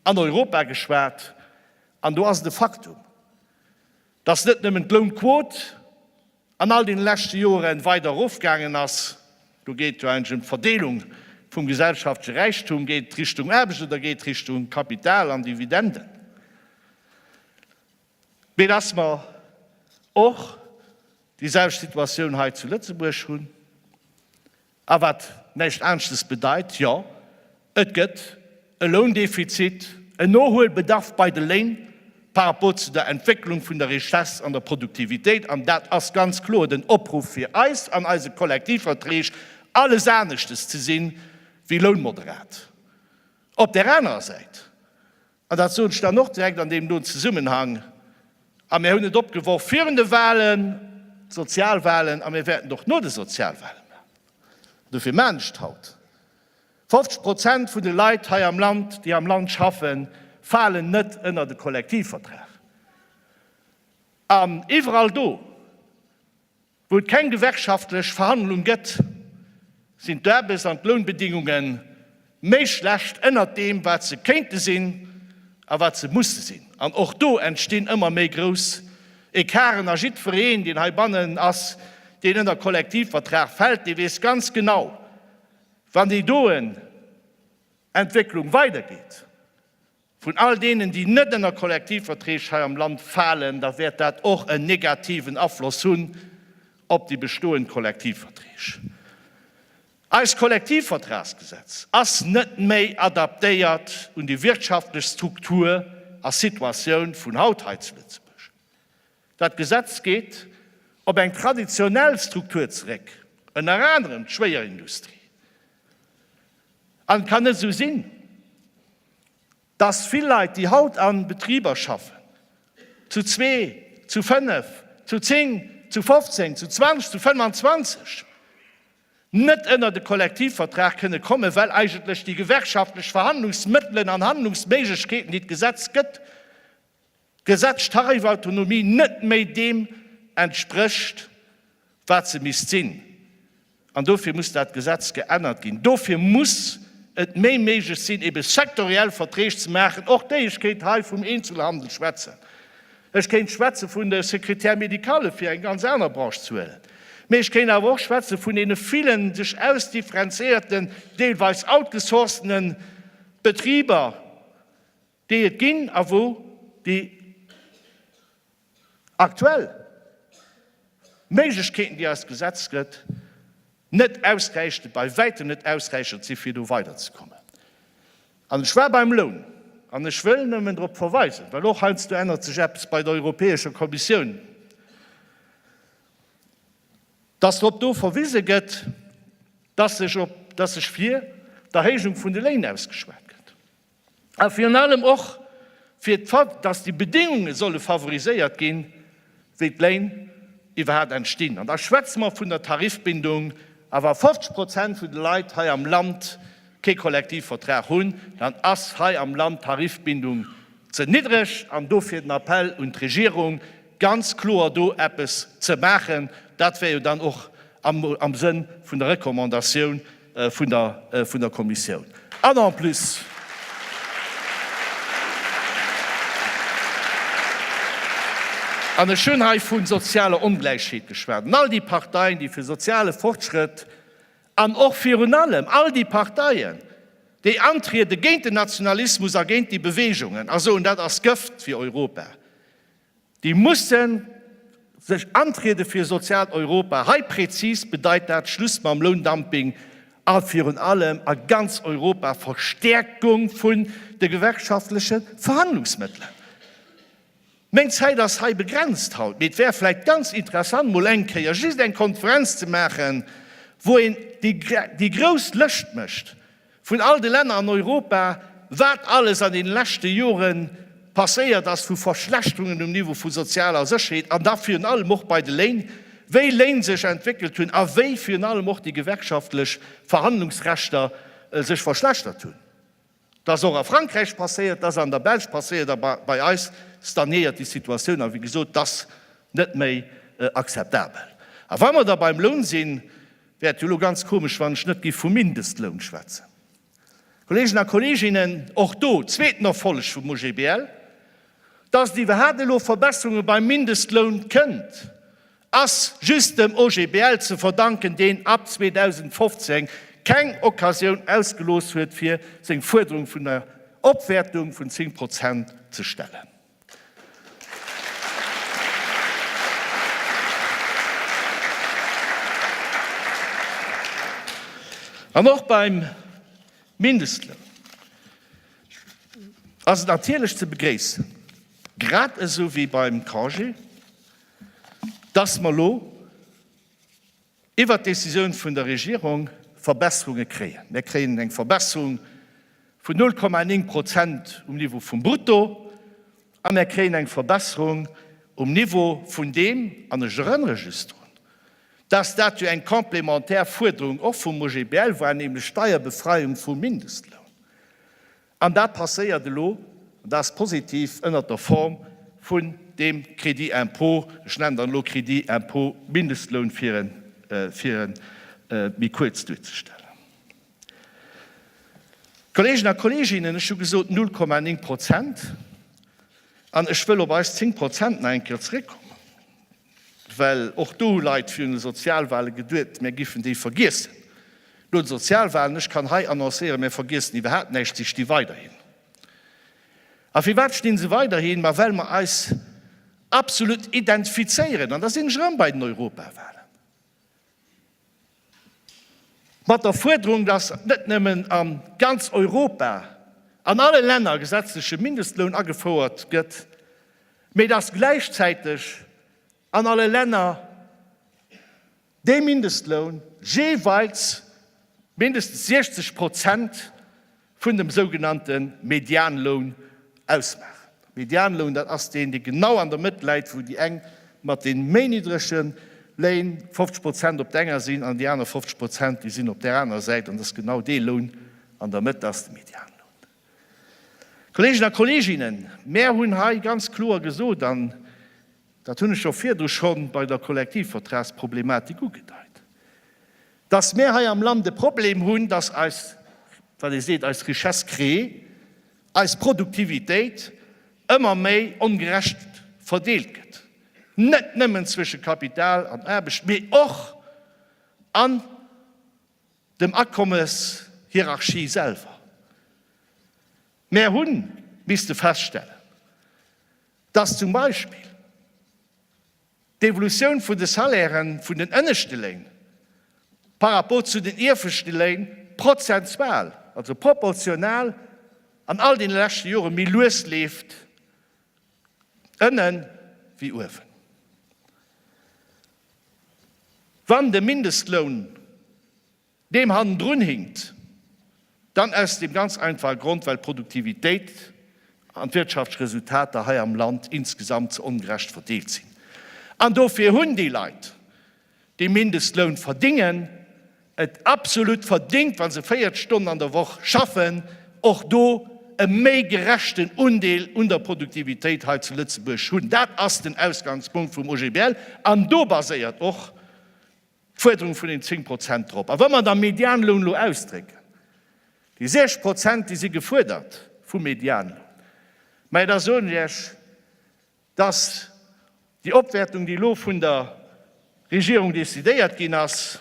an Europa geschwat, an do ass et e Faktum, Dass net nëmmen d'Lounquot an all deene leschte Joere weider erofgaangen ass, do geet jo eigentlech ëm d'Verdeelung vum gesellschaftleche Räichtum, geet et Richtung Aarbecht oder geet et Richtung Kapital an Dividenden, mee dass mer och déi selwecht Situatioun hei zu Lëtzebuerg hunn. A wat näischt aanschtes bedeit, jo, et gëtt e Loundefizit, en Nohuelbedarf bei de Léin par rapport zu der Entwécklung vun der Richesse an der Produktivitéit. An dat ass ganz kloer den Opruff fir eis an eise Kollektivverträg, alles aneschtes ze sinn wéi lounmoderat. Op där anerer Säit An dat sot ech dann och direkt an deem do Zesummenhang, a mir hunn et opgeworf virun de Wahlen, d'Sozialwahlen, a mir wäerten et och no de Sozialwahlen maachen. An dofir maachen ech et haut. 50 Prozent vun de Leit hei am Land, déi am Land schaffen, falen net ënner de Kollektivvertrag. An iwwerall do, Wou et keng gewerkschaftlech Verhandlung gëtt, sinn d'Aarbechts an d'Lounbedingunge méi schlecht ënnert deem, wat se kéinte sinn a wat se musse sinn. An och do entstinn ëmmer méi grouss Ecarten. A jiddwereen, deen heibannen ass, deen ënner Kollektivvertrag fält, dee weess ganz genau, wann déi doen Entwécklung weidergeet, vun all deenen, déi net ënner Kollektivverträg hei am Land falen, da wäert dat och en negativen Afloss hunn op déi bestoend Kollektivverträg. Eist Kollektivvertragsgesetz ass net méi adaptéiert un déi wirtschaftlech Struktur a Situatioun vun haut hei zu Lëtzebuerg. Dat Gesetz geet op eng traditionell Struktur zeréck, ënner anerem d'Schwéierindustrie. An et kann net esou sinn, dass vill Leit, déi haut a Betriber schaffen, zu zwee, zu fënnef, zu zéng, zu fofzéng, zu zwanzeg, zu fënnwanzwanzeg, net ënnert e Kollektivvertrag kënne kommen, well eigentlech déi gewerkschaftlech Verhandlungsmëttelen an handlungsméiglechkeeten, déi d'Gesetz gëtt, D'Gesetz d'Tarifautonomie net méi deem entsprécht, wat se misst sinn. An dofir muss dat Gesetz geännert ginn. Dofir muss et méi méiglech sinn, ebe sektoriell Verträg ze maachen. Och déi, ech kéint hei vum Eenzelhandel schwätzen, ech kéint schwätze vun de Secrétaires médicales, fir eng ganz aner Branche ze huelen, mee ech kéint awer och schwätze vun deene villen sech ausdifferenzéierten, deelweis outgesourcene Betriber, déi et ginn a wou déi aktuell Méiglechkeeten, déi eis d'Gesetz gëtt, net ausräichend, bei Wäitem net ausräichend si fir do weiderzekommen. An ech war beim Loun, an ech wëll nëmmen drop verweisen, well och heiansdo ännert sech eppes bei der Europäescher Kommissioun, dass drop do verwise gëtt, dass sech fir d'Erhéijung vun de Léin ausgeschwat gëtt. A virun allem och fir d'Fakt, dass déi Bedéngunge solle favoriséiert ginn, wéi d'Léin iwwerhaapt entstinn. An da schwätze mer vun der Tarifbindung. A wa 50 Prozent vun de Leit hei am Land kee Kollektivvertrag hunn, dann ass hei am Land d'Tarifbindung ze niddreg. An dofir den Appell un d'Regierung, ganz kloer do eppes ze maachen. Dat wär jo dann och am Sënn vun der Recommandatioun, vun der Kommissioun. An en plus, an ech hunn hei vu sozialer Ongläichheet geschwat, an all déi Parteien, déi fir soziale Fortschrëtt an och virun allem all déi Parteien, déi antriede géint den Nationalismus a géint déi Beweegungen a soen, dat ass Gëft fir Europa, Déi mussen sech antriede fir e soziaalt Europa. Hei prezis bedeit dat Schluss mam Loundumping a virun allem a ganz Europa Verstäerkung vun de gewerkschaftleche Verhandlungsmëttelen. Meng Zäit ass hei begrenzt haut, mee et wär vläicht ganz interessant mol eng Kéier just eng Konferenz ze maachen, wou een déi grouss Lëscht mécht, Vun all de Länner an Europa, wat alles an deene leschte Jore passéiert ass vu Verschlechterungen um Niveau vu sozialer Sécherheet an da virun allem och bei de Léin, wéi Léin sech entwéckelt hunn a wéi virun allem och déi gewerkschaftlech Verhandlungsrechter sech verschlechtert hunn. Dat ass och a Frankräich passéiert, dat ass an der Belsch passéiert a bei eis stagnéiert déi Situatioun a wéi gesot, dat ass net méi akzeptabel. A wa mer da beim Loun sinn, Wäert jo elo ganz komesch, wann ech net géif vu Mindestloun schwätzen. Kolleegen a Kolleeginnen, och do, zweeten Erfolleg vum OGBL, Dass et iwwerhaapt elo Verbesserunge beim Mindestloun kënnt, ass just dem OGBL ze verdanken, deen ab 2015 keng Occasioun ausgelooss huet, fir seng Fuerderung vun der Opwäertung vun 10 Prozent ze stellen. An och beim Mindestloun ass et natierlech ze begréissen, grad esou wéi beim Congé, dass mer elo, Iwwert d'Decisioun vun der Regierung Verbesserunge kréien. Mir kréien eng Verbesserung vun 0,9 Prozent um Niveau vum Brutto a mir kréien eng Verbesserung um Niveau vun deem, an ech erënnere just drun, dass dat jo eng complémentaire Fuerderung och vum OGBL war, nämlech d'Steierbefreiung vum Mindestloun. An dat passéiert elo, an dat ass positiv, ënnert der Form vun deem Crédit impôt, ech nennen dann elo Crédit impôt Mindestloun, fir e méi kuerz duerzestellen. Kolleegen a Kolleeginnen, ech hu gesot 0,9 Prozent, an ech wëll op eis 10 Prozent nach eng Kéier zrëckkommen. Well och do hu Leit virun de Sozialwale geduet, mär géifen déi vergiessen no de Sozialwalen. Ech kann hei annoncéieren, mär vergiessen iwwerhaapt näischt, si sti weiderhin. A firwat stinn se weiderhin? Ma well mer eis absolut identifizéieren, an da sinn ech erëm bei den Europawalen, Mat der Fuerderung, datt net nëmmen a ganz Europa an alle Länner e gesetzleche Mindestloun agefouert gëtt, mee datt gläichzäiteg an alle Länner dee Mindestloun jeeweils mindestens 60 Prozent vun dem sougenannte Medianloun ausmaachen. Medianloun, dat ass deen, dee genau an der Mëtt läit, wou déi eng mat de méi niddrege Léin 50 Prozent op der enger sinn an déi aner 50 Prozent, déi sinn op där anerer Säit. An dass genau dee Loun an der Mëtt ass de Medianloun. Kolleegen a Kolleeginnen, mär hunn hei ganz kloer gesot, an dat hunn ech och virdru scho bei der Kollektivvertragsproblematik ugedeit, Dass mär hei am Land e Problem hunn, dass eis, wat ee seet, eis Richesse créée, eis Produktivitéit ëmmer méi ongerecht verdeelt gëtt, net nëmmen zwësche Kapital an Aarbecht, mee och an dem Akommeshierarchie selwer. Mär hu misste feststellen, dass zum Beispill D'Evolutioun vun de Salairen vun den ënneschte Léin par rapport zu den ieweschte Léin prozentual, also proportional, an all deene leschte Jore méi lues leeft ënnen wéi uewen. Wann de Mindestloun deem hannendrun hinkt, dann aus deem ganz einfache Grond, well d'Produktivitéit an d'Wirtschaftsresultater hei am Land insgesamt ze ongerecht verdeelt sinn. An dofir hunn déi Leit, déi Mindestloun verdingen, et absolut verdingt, wa se 40 Stonnen an der Woch schaffen, och do e méi gerechten Undeel un der Produktivitéit hei zu Lëtzebuerg hunn. Dat ass den Ausgangspunkt vum OGBL an do baséiert och D'Fuerderung vun den 10 Prozent drop. A wa mer da Medianloun elo ausdrécken, déi 6 Prozent, déi si gefuerdert vum Medianloun, mä da soen ech Iech, dass déi Opwäertung, déi elo vun der Regierung decidéiert ginn ass,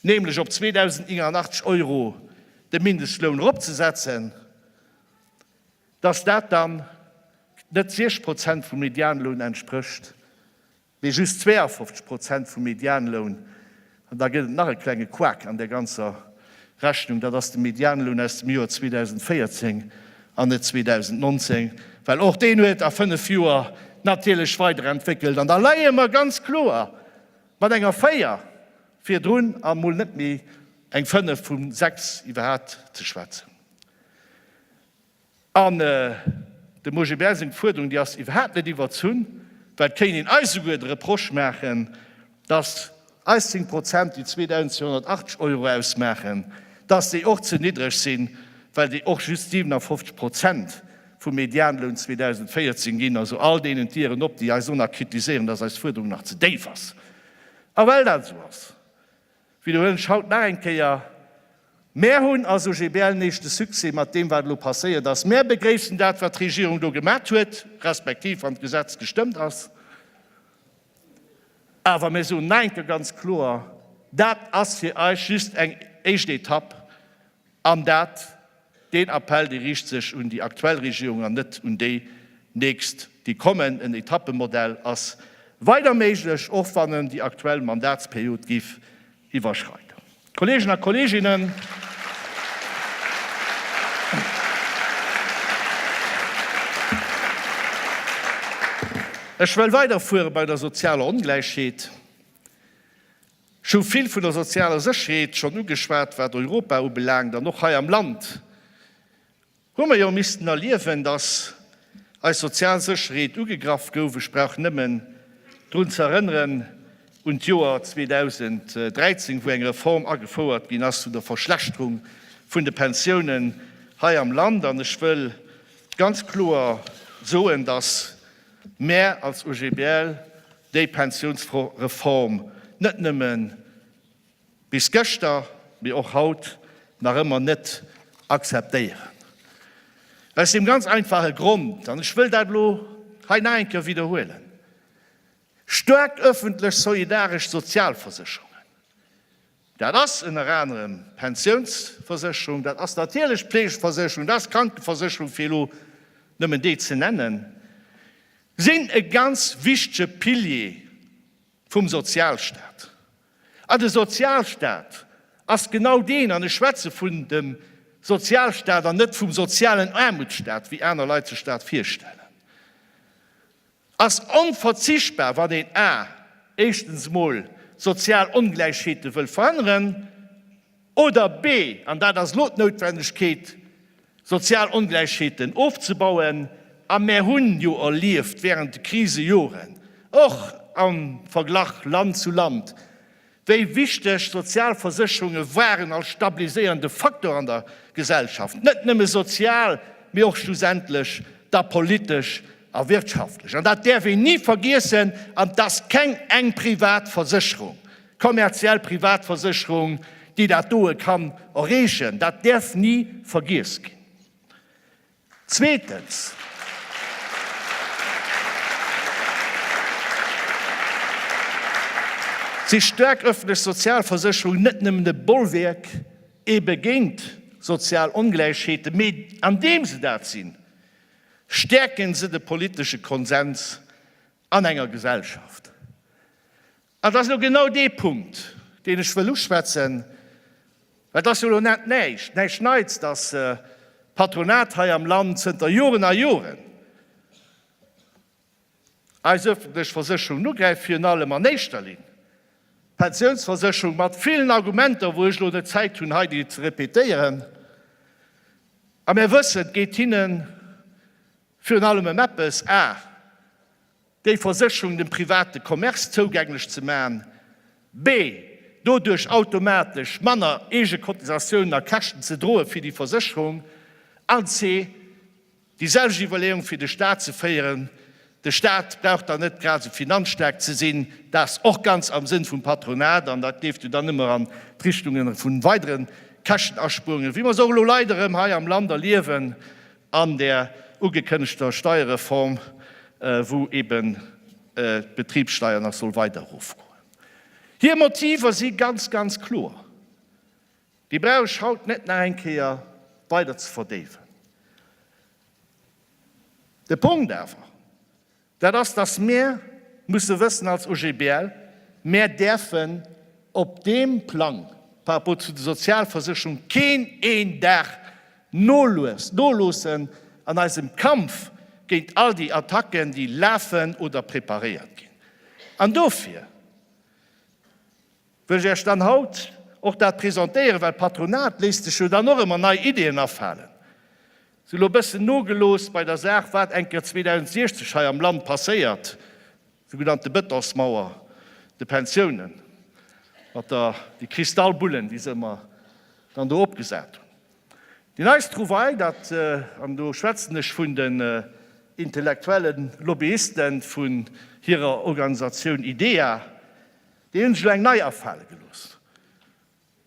nämlech op 2.089 Euro de Mindestloun eropzesetzen, dass dat dann net 6 Prozent vum Medianloun entsprécht, mee just 52 Prozent vum Medianloun, an da gëtt et nach e klenge Couac an där ganzer Rechnung, dat ass de Medianloun aus dem Joer 2014 an net 2019, well och deen huet a fënnef Joer natierlech weiderentwéckelt. An da leie mer ganz kloer mat enger Véier virdrun a mol net méi eng Fënnef vum sechs iwwerhaapt ze schwätzen. An dem Augibert seng Fuerderung, déi ass iwwerhaapt net iwwerzunn, well et kéint een eis esouguer de Reproche maachen, datt eis 10 Prozent, déi 2.280 Euro ausmaachen, datt déi och ze niddreg sinn, well déi och just 57 Prozent vum Medianloun 2014 ginn. Also all deenen d'Ieren op, déi eis ëmmer kritiséieren, datt eis Fuerderung nach ze déif ass. A well dat esou ass, Widderhuelen ech haut nach eng Kéier, Mär hunn als OGBL nees de Succès mat deem, wat elo passéiert ass. Mär begréissen dat, wat d'Regierung do gemat huet, respektiv wann d'Gesetz gestëmmt ass. Awer mir soen nach eng Kéier ganz kloer, Dat ass fir eis just eng éischt Etapp. An dat, deen Appell, dee riicht sech un déi aktuell Regierung an net un déi nächst, déi kommen. En Etappemodell ass weider méiglech, och wann en déi aktuell Mandatsperiod géif iwwerschreiden. Kolleegen a Kolleeginnen, ech wëll weiderfuere bei der sozialer Ongläichheet. Ech hu vill vun der sozialer Sécherheet schonn ugeschwat, wat Europa ubelaangt. An och hei am Land hu mer jo missten erliewen, datt eis sozial Sécherheet ugegraff gouf. Ech brauch nëmmen drun ze erënneren un d'Joer 2013, wou eng Reform agefouert ginn ass zu der Verschlechterung vun de Pensiounen hei am Land. An ech wëll ganz kloer soen, datt mär als OGBL déi Pensionsreform net nëmme bis gëschter, mee och haut nach ëmmer net akzeptéieren. Aus deem ganz einfache Grond, an ech wëll dat elo hei nach eng Kéier widderhuelen, Staark öffentlech solidaresch Sozialversicherungen, Dat ass ënner anerem d'Pensiounsversécherung, dat ass natierlech d'Fleegeversécherung, dat ass d'Krankenversécherung, fir elo nëmmen déi ze nennen, sinn e ganz wichtege Pilier vum Sozialstaat. A de Sozialstaat ass genau deen, an ech schwätze vun dem Sozialstaat an net vum sozialen Aarmutsstaat, wéi aner Leit sech dat virstellen, ass onverzichtbar, wann een a éischtens emol d'sozial Ongläichheete wëll veränneren, oder b an dat ass elo d'Noutwendegkeet, sozial Ongläichheeten ofzebauen. A mär hunn jo erlieft wärend de Krisejoren, och am Verglach Land zu Land, Déi wichteg Sozialversécherunge waren als stabiliséierende Faktor an der Gesellschaft net nëmme sozial, mee och schlussendlech da politesch a wirtschaftlech. An dat däerf een ni vergiessen. An et ass keng eng privat Versécherung, kommerziell Privatversécherung, déi dat doe kann erreechen. Dat däerf ni vergiess ginn. Zweetens, si staark ëffentlech Sozialversécherungen net nëmmen e Bollwerk ebe géint sozial Ongläichheeten, mee andeem se dat sinn, stäerken se de politesche Konsens an enger Gesellschaft. An dat ass elo genau dee Punkt, deen ech wëll uschwätzen, well et ass jo elo net näischt, näischt Neits, dass d'Patronat hei am Land zënter Joren a Joren eis öffentlech Versécherungen ugräift, virun allem an éischter Linn d'Pensiounsversécherung, mat villen Argumenter, wou ech elo net Zäit hunn, hei déi ze répétéieren. A mir wëssen, et geet hinne virun allem ëm eppes, a. Déi Versécherung dem private Commerce zougänglech ze maachen, bee doduerch automatesch manner eege Cotisatiounen a Käschten ze droe fir déi Versécherung, an ce déi selwecht Iwwerleeung fir de Stat ze féieren, de Stat brauch dann net grad esou finanzstaark ze sinn, dat ass och ganz am Sënn vum Patronat an dat géif jo dann ëmmer an d'Richtunge vu weidere Käschtenaspuerunge, wéi mer se och elo leider erëm hei am Land erliewen, an der ugekënnegter Steierreform, wou eben d'Betribssteier nach soll weider erofgoen. Hir Motiver si ganz, ganz kloer. Déi brauch ech haut net nach eng Kéier weider ze verdéiwen. De Punkt awer, Dat ass, dass mir musse wëssen als OGBL, Mir däerfen op deem Plang par rapport zu de Sozialversicherung keen een Dag noloossen an eisem Kampf géint all déi Attacken, déi lafen oder preparéiert ginn. An dofir, Wëll ech Äech dann haut och dat presentéieren, well d'Patronat léisst sech jo dann och ëmmer nei Ideen afalen. Si hu lo bëssen nogelooss bei der Saach, wat eng Kéier 2060 hei am Land passéiert, sougenannte Betonsmauer de Pensiounen, mat der, déi Kristallbullen, déi se ëmmer dann do opgesat hunn. Déi neist Trouvaille, dat, an do schwätzen ech vun den intellektuellen Lobbyisten vun hirer Organisatioun IDEA, Déi hunn sech elo eng nei afale gelooss,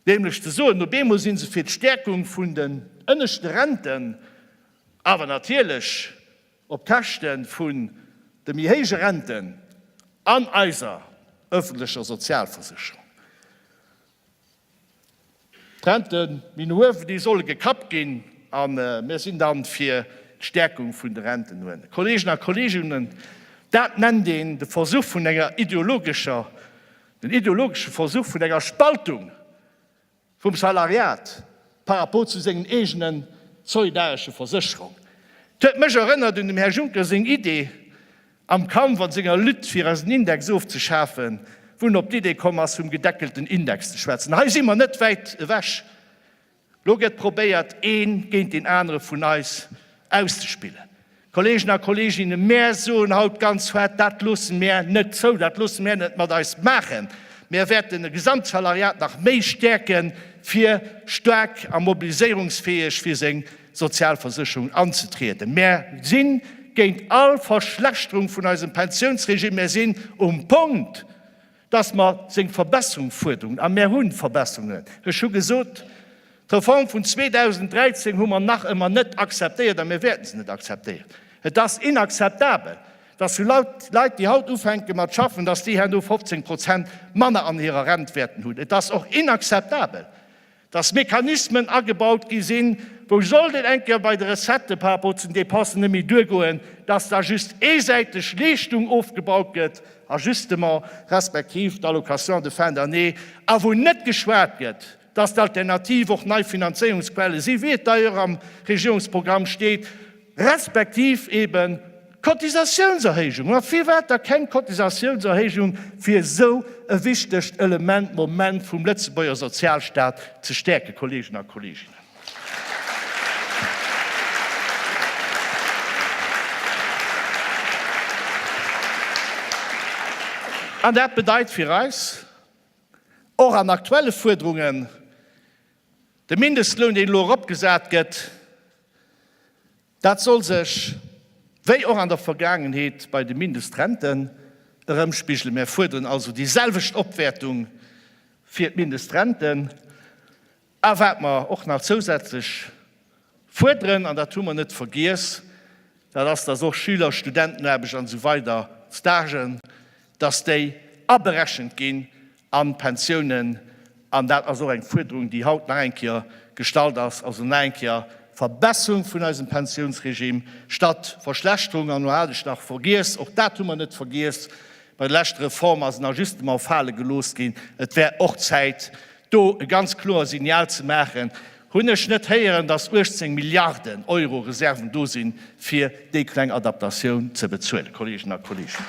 nämlech ze soen, op eemol si se fir d'Stäerkung vun den ënneschte Renten, awer natierlech op Käschte vun de méi héije Renten an eiser ëffentlecher Sozialversécherung. D'Rente méi uewen, déi solle gekappt ginn a mir sinn da fir d'Stäerkung vun de Renten. Kolleegen a Kolleeginnen, dat nennt een de Versuch vun enger ideologescher, den ideologesche Versuch vun enger Spaltung vum Salariat par rapport zu sengen eegene solidaresche Versécherungen. Dat huet mech erënnert un dem Här Juncker seng Idee, Am Kampf an senger Lutte fir eisen Index ofzeschafen, wou en op d'Idee komm ass vum gedeckelten Index ze schwätzen. Hei si mer net wäit ewech. Lo gëtt probéiert een géint deen anere vun eis auszespillen. Kollegen a Kolleginnen, mär soen haut ganz fett, dat loosse mär net zou, dat loosse mär net mat eis maachen. Mär wäerten e Gesamtsalariat nach méi stäerken, fir staark a mobiliséierungsfäeg fir seng Sozialversécherung anzetrieden. Mär si géint all Verschlechterung vun eisem Pensiounsregime. Mär sinn um Punkt, dass mer seng Verbesserung fuerderen, a mär hu Verbesserungen. Ech hu gesot, d'Reform vun 2013 hu mer nach ëmmer net akzeptéiert a mir wäerten se net akzeptéieren. Et ass inakzeptabel, dass sou Leit, déi haut ufänke mat schaffen, dass déi herno 15 Prozent manner an hirer Rent wäerten hunn. Et ass och inakzeptabel, dass Mechanismen agebaut gi sinn, wou sollt et eng Kéier bei de Recettë par rapport zu den Dépensen net méi duergoen, dass da just eesäiteg Leeschtung ofgebaut gëtt, Ajustement, respektiv d'Allocation de fin d'année, a wou net geschwat gëtt, dass d'Alternativ och nei Finanzéierungsquelle si wéi et d'ailleurs am Regierungsprogramm steet. respektiv eben d'Cotisatiounserhéijung, ma firwat da keng Cotisatiounserhéijung, fir esou e wichtegt Element, Moment vum Lëtzebuerger Sozialstaat ze stäerken, Kolleegen a Kolleeginnen? An dat bedeit fir eis, och an aktuelle Fuerderungen, De Mindestloun, deen elo eropgesat gëtt, dat soll sech wéi och an der Vergaangenheet bei de Mindestrenten erëmspigelen. Mär fuerderen also déi selwecht Opwäertung fir d'Mindestrenten. A wat mer och nach zousätzlech Fuerderen, an dat hu mer net vergiess, dat ass, dass och Schüler, Studentenaarbecht an esou weider, Stagen, dass déi aberechent ginn an d'Pensiounen. An dat ass och eng Fuerderung, déi haut nach eng Kéier gestallt ass, also nach eng Kéier Verbesserung vun eisem Pensiounsregime statt Verschlechterung. An elo hat ech nach vergiess, och dat hu mer net vergiess, bei der leschter Reform ass en Ajustement fale gelooss ginn. Et wär och Zäit, Do e ganz kloer Signal ze maachen, hunn ech net héieren, datt 18 Milliarden Euro Reserven do sinn, fir déi kleng Adaptatioun ze bezuelen, Kolleegen a Kolleegen.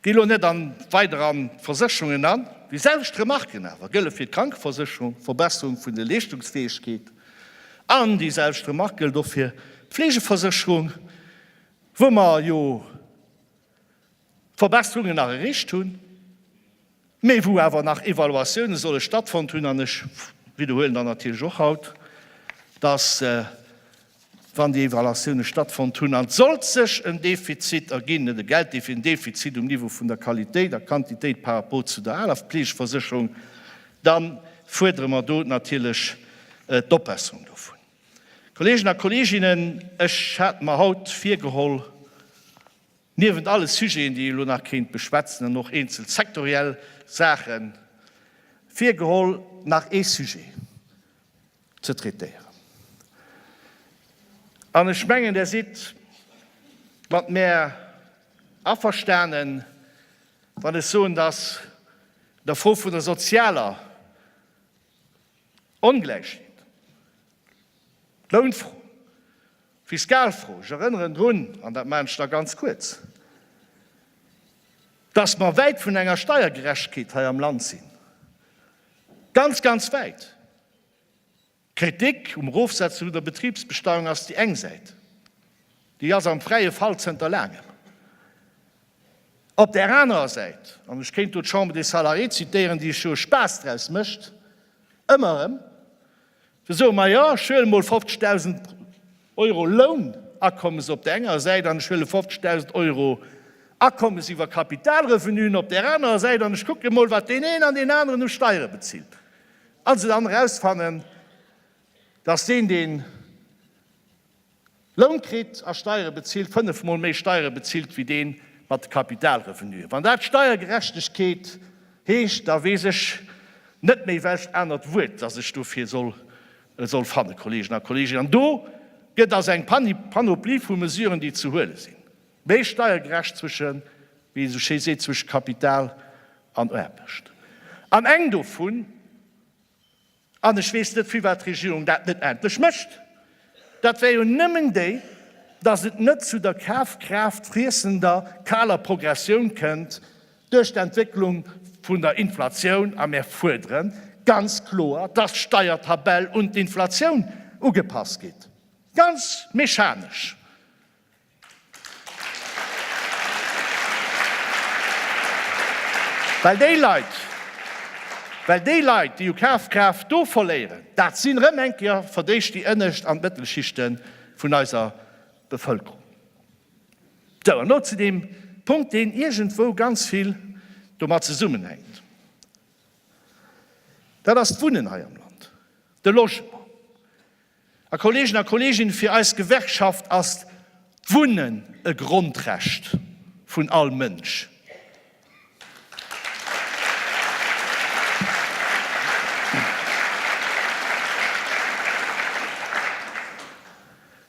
Gi lo net an weider an d'Versécherungen an. Déi selwecht Remarken awer gëlle fir d'Krankeversécherung, d'Verbesserung vun de Leeschtungsfäegkeet, an déi selwecht Remark gëllt och fir d'Fleegeversécherung, wou mer jo Verbesserungen nach erreecht hunn. mee wou awer nach Evaluatioune solle stattfonnt hunn, an ech widderhuelen dann natierlech och haut, dass, wann déi Evaluatioune stattfonnt hunn an et sollt sech en Defizit erginn, net e Gelddefizit, en Defizit um Niveau vun der Qualitéit a Quantitéit par rapport zu der aler Fleegeversécherung, da fuerdere mer do natierlech d'Opbesserung dovun. Kolleegen a Kolleeginnen, ech hat mer haut virgeholl, Niewent alle Sujeten, déi ee lo nach kéint beschwätzen an och eenzel sektoriell Saache virgeholl, nach ee Sujet ze traitéieren. An ech mengen, Der sidd mat mär averstanen, wann ech soen, dass der Fro vun der sozialer Ongläichheet, D'Lounfro, d'Fiskalfro, ech erënneren drun, an dat maachen ech da ganz kuerz, dass mer wäit vun enger Steiergerechtkeet hei am Land sinn, ganz, ganz wäit. D'Kritik um Erofsetze vun der Betribsbesteuerung ass déi eng Säit, déi ass am fräie Fall zënter laangem. Op där anerer Säit, an ech kéint do d'Chambre des Salariés zitieren, déi scho Spaass draus mécht, ëmmer erëm, Fir soe mer, jo, ech huele mol 50.000 Euro Lounakommes op där enger Säit an ech huele 50.000 Euro Akommes iwwer Kapitalrevenuen op där anerer Säit an ech kucke emol, wat deen een an deen aneren u Steiere bezilt a se dann erausfannen, dass deen, deen. Loun kritt a Steiere bezilt, fënnef Mol méi Steiere bezilt wéi dee mat de Kapitalrevenue. Wann dat Steiergerechtegkeet heescht, da weess ech net méi welcht anert Wuert, dat ech dofir soll fannen, Kolleegen a Kolleegen. An do gëtt also eng Panoplie vu Mesuren, déi ze huele sinn, méi steiergerecht zwësche, wéi ee sou schéi seet, zwësche Kapital an Aarbecht. An eng dovun, An ech weess net, firwat d'Regierung dat net endlech mécht. Dat wär jo nëmmen déi, dass et net zu der Kafkraaft friessender kaler Progressioun kënnt duerch d'Entwécklung vun der Inflatioun. A mir fuerdere ganz kloer, dass d'Steiertabell un d'Inflatioun ugepasst gétt, ganz mechanesch. Well déi Leit, well déi Leit, déi u Kafkraaft do verléieren, dat sinn erëm eng Kéier fir d'éischt déi ënnescht an d'Mëttelschichte vun eiser Bevëlkerung. Sou, an elo zu deem Punkt, deen iergendwou ganz vill domat zesummenhänkt, dat ass d'Wunnen hei am Land, de Logement. A Kollegen a Kollegin, fir eis Gewerkschaft ass d'Wunnen e Grondrecht vun all Mënsch.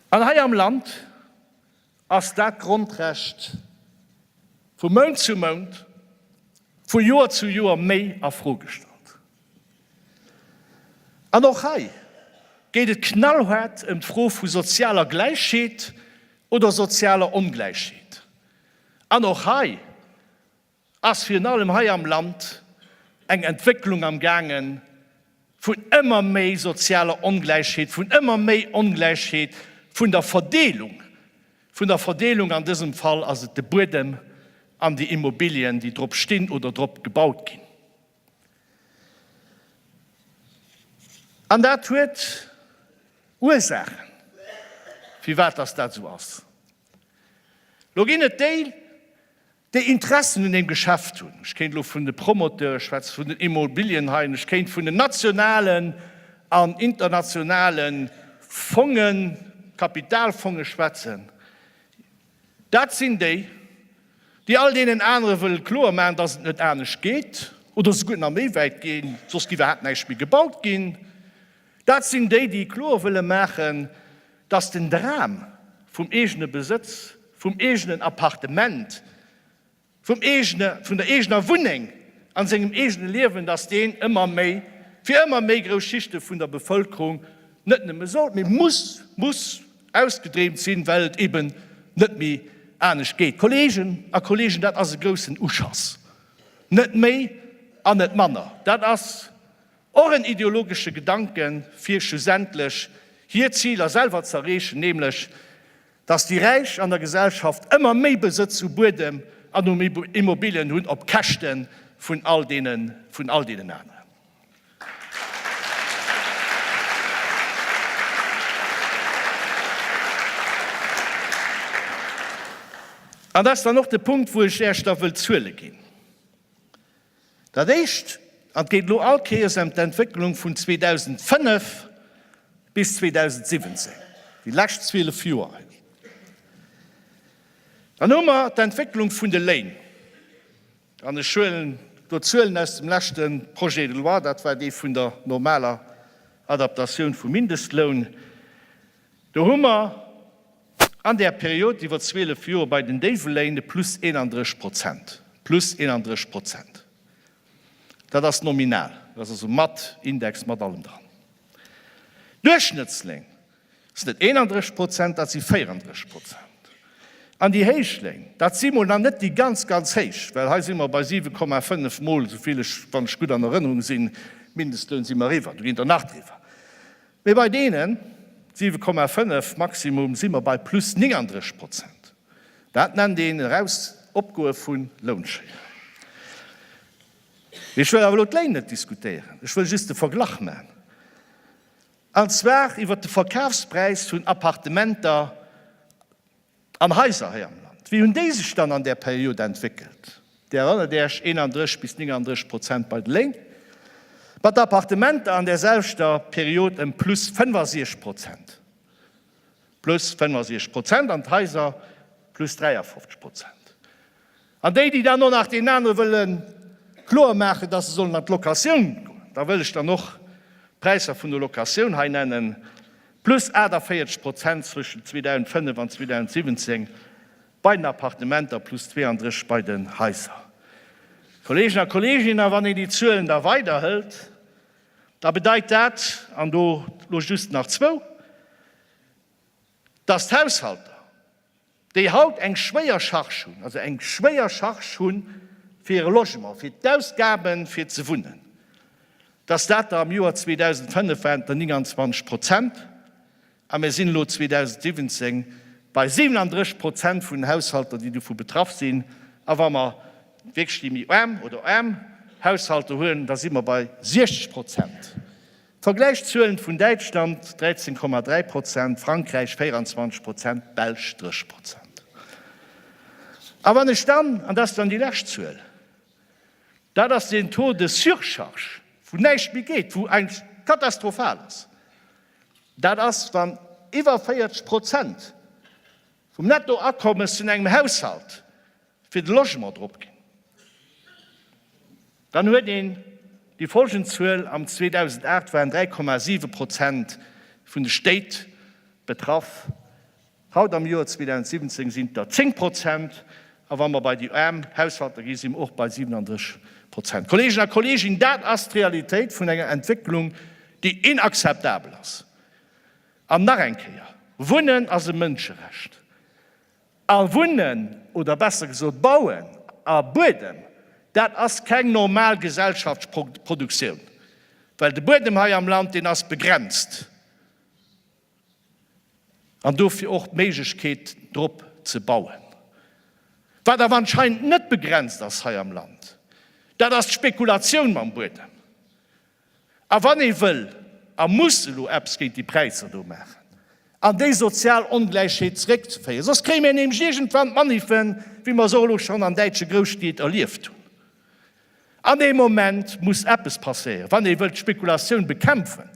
An hei am Land, Ass dat d'Grondrecht vu Mount zu Mount, vu Joer zu Joer méi a Fro gestallt? An och hei geet et knallhaart ëm d'Fro vu sozialer Gläichheet oder sozialer Ongläichheet. An och hei ass virun allem hei am Land eng Entwécklung am gaange vun ëmmer méi sozialer Ongläichheet, vun ëmmer méi Ongläichheet vun der Verdeelung, vun der Verdeelung, an dësem Fall ass et de Buedem an déi Immobilien, déi drop stinn oder drop gebaut ginn. An dat huet Ursaachen, firwat dass dat esou ass. Lo ginn et déi, déi Interessen un deem Geschäft hunn, ech kéint elo vun de Promoteure schwätzen, vun den Immobilienhaien, ech kéint vun den nationalen an internationale Fongen, Kapitalfonge schwätzen, dat sinn déi, déi all deenen anere wëlle kloer maachen, dass et net anescht geet oder souguer nach méi wäit ginn, soss géif iwwerhaapt näischt méi gebaut ginn. Dat sinn déi, déi kloer wëlle maachen, datt den Dram vum eegene Besëtz, vum eegenen Appartement, vum eegene, vun der eegener Wunneng a sengem eegene Liewen, datt deen ëmmer méi, fir ëmmer méi grouss Schichte vun der Bevëlkerung net nëmme soll, mee muss, muss ausgedreemt sinn, well et eben net méi anescht geet. Kolleegen a Kolleegen, dat ass e groussen Uschass, net méi an net manner. Dat ass Och en ideologesche Gedanke fir schlussendlech hir Ziler selwer z'erreechen, nämlech datt déi Räich an der Gesellschaft ëmmer méi Besëtz u Buedem an um Immobilien hunn op Käschte vun all deenen aneren. An dat ass dann och de Punkt, wou ech Äech da wëll Zuele ginn. Dat éischt, an et geet elo all Kéiers ëm d'Entwécklung vun 2005 bis 2017, déi lescht 12 Joer hei, dann hu mer d'Entwécklung vun de Léin, an ech huelen do d'Zuelen aus dem leschte Projet de loi, dat war dee vun der normaler Adaptatioun vum Mindestloun, Do hu mer an där Period iwwer 12 Joer bei den déiwe Léin e Plus 31 Prozent. Plus 31 Prozent, dat ass nominal, dat ass also mat Index, mat allem dran. Duerchschnëttsléin sinn net 31 Prozent, dat si 34 Prozent. An déi héich Léin, dat si mol nach net déi ganz, ganz héich, well hei si mer bei 7,5 Mol esou vill, wann ech gutt an Erënnerung sinn, Mindestloun si mer eriwwer, do ginn der nach driwwer. Mee bei deenen 7,5 Maximum si mer bei plus 39 Prozent. Dat nennt een eraus Opgoe vu Lounschéier. Mee ech wëll awer elo d'Léin net diskutéieren, ech wëll just de Verglach man, an zwar iwwert de Verkafspräis vun Appartementer, an Haiser hei am Land. Wéi hunn déi sech dann an där Period entwéckelt? Dir erënnert Iech, 31 bis 39 Prozent bei de Lénk, mat de Appartementer an där selwechter Period ëm plus 65 Prozent, plus 65 Prozent, an d'Haiser plus 53 Prozent. An déi, déi dann och nach deenen anere wëlle kloer maachen, dass se sollen an d'Locatioun goen, da wëll ech dann och d'Präisser vun der Locatioun hei nennen, plus 48 Prozent zwëschen 2005 an 2017 bei den Appartementer, plus 32 bei den Haiser. Kolleegen a Kolleeginnen, a wann een déi Zuelen da weiderhëlt, da bedeit dat, an do elo just nach zwou, dass d'Haushalter, déi haut eng schwéier Charge hunn, also eng schwéier Charge hu fir hire Logement, fir d'Ausgabe fir ze wunnen, dass dat der am Joer 2005 waren der 29 Prozent a mir sinn elo 2017 bei 37 Prozent vun den Haushalter, déi dovu betraff sinn. A wa mer wierklech déi méi aarm oder aarm Haushalter huelen, da si mer bei 60 Prozent. Vergläichszuelen vun Däitschland 13,3 Prozent, Frankräich 24 Prozent, d'Belsch 30 Prozent. A wann ech dann, an dat ass dann déi lescht Zuel, dat ass den Taux de surcharge, wou näischt méi geet, wou eis katastrophal ass, dat ass wann iwwer 40 Prozent, Vum Nettoakommes vun engem Haushalt fir de Logement drop ginn, dann huet een déi folgend Zuel, am 2008 waren 3,7 Prozent vun de Stéit betraff, haut am Joer 2017 sinn et der 10 Prozent, a wa mer bei déi aarm Haushalter ginn, si mer och bei 37 Prozent. Kolleegen a Kolleeginnen, dat ass d'Realitéit vun enger Entwécklung, déi inakzeptabel ass! An nach eng Kéier, Wunnen ass e Mënscherecht. A wunnen, oder besser gesot bauen, a Buedem, dat ass keng normal Gesellschaftsproduktioun. Well de Buedem hei am Land, deen ass begrenzt. An dofir och d'Méiglechkeet drop ze bauen. Wat awer anscheinend net begrenzt ass hei am Land, dat ass d'Spekulatioun mam Buedem. A wann ee wëll a muss elo eppes géint déi Präisser do maachen an déi sozial Ongläichheet zréckzeféieren, soss kréie mir nämlech iergendwann Maniffen, wéi mer se och elo schonn an däitsche Grousstied erlieft hunn. An dee Moment muss eppes passéieren, wann ee wëllt d'Spekulatioun bekämpfen,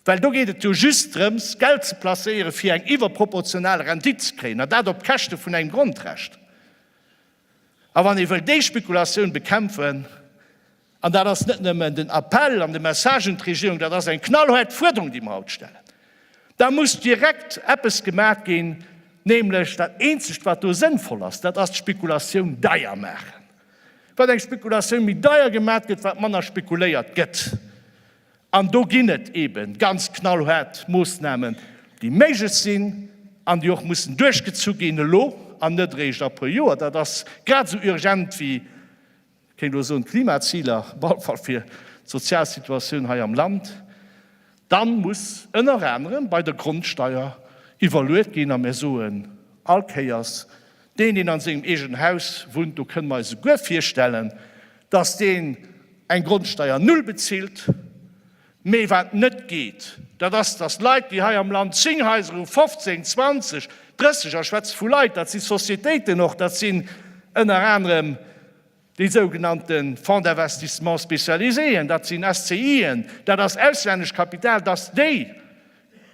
well do geet et jo just drëms, Geld ze placéieren, fir eng iwwerproportional Rendite ze kréien, an dat op Käschte vun engem Grondrecht. A wann ee wëll déi Spekulatioun bekämpfen, an dat ass net nëmmen den Appell an de Message un d'Regierung, dat ass eng knallhaart Fuerderung, déi mer haut stellen, da muss direkt eppes gemaach ginn, nämlech dat Eenzegt, wat do sënnvoll ass, dat ass d'Spekulatioun deier maachen. Wat eng Spekulatioun méi deier gemaach gëtt, wat manner spekuléiert gëtt. An do ginn et eebe ganz knallhaart Moossnamen, déi méiglech sinn an déi och mussen duerchgezu ginn, elo an net eréischt a puer Joer. Dat ass grad esou urgent wéi, ech kéint elo soen, d'Klimaziler, op alle Fall fir d'sozial Situatioun hei am Land. Dann muss ënner anerem bei der Grondsteuer iwwerluet ginn a mir soen all Kéiers, Deen, deen an sengem eegenen Haus wunnt, do kënne mer eis esouguer virstellen, dass deen eng Grondsteier Null bezilt. Mee wat net geet, dat ass, dass Leit, déi hei am Land zéng Haiser hu, 15, 20, 30, a schwätze vu Leit, dat si Societéiten och, dat sinn ënner anerem, Déi sougenannte Fonds d'investissements spécialisés, dat sinn SCIen, dat ass auslännesch Kapital, dass déi,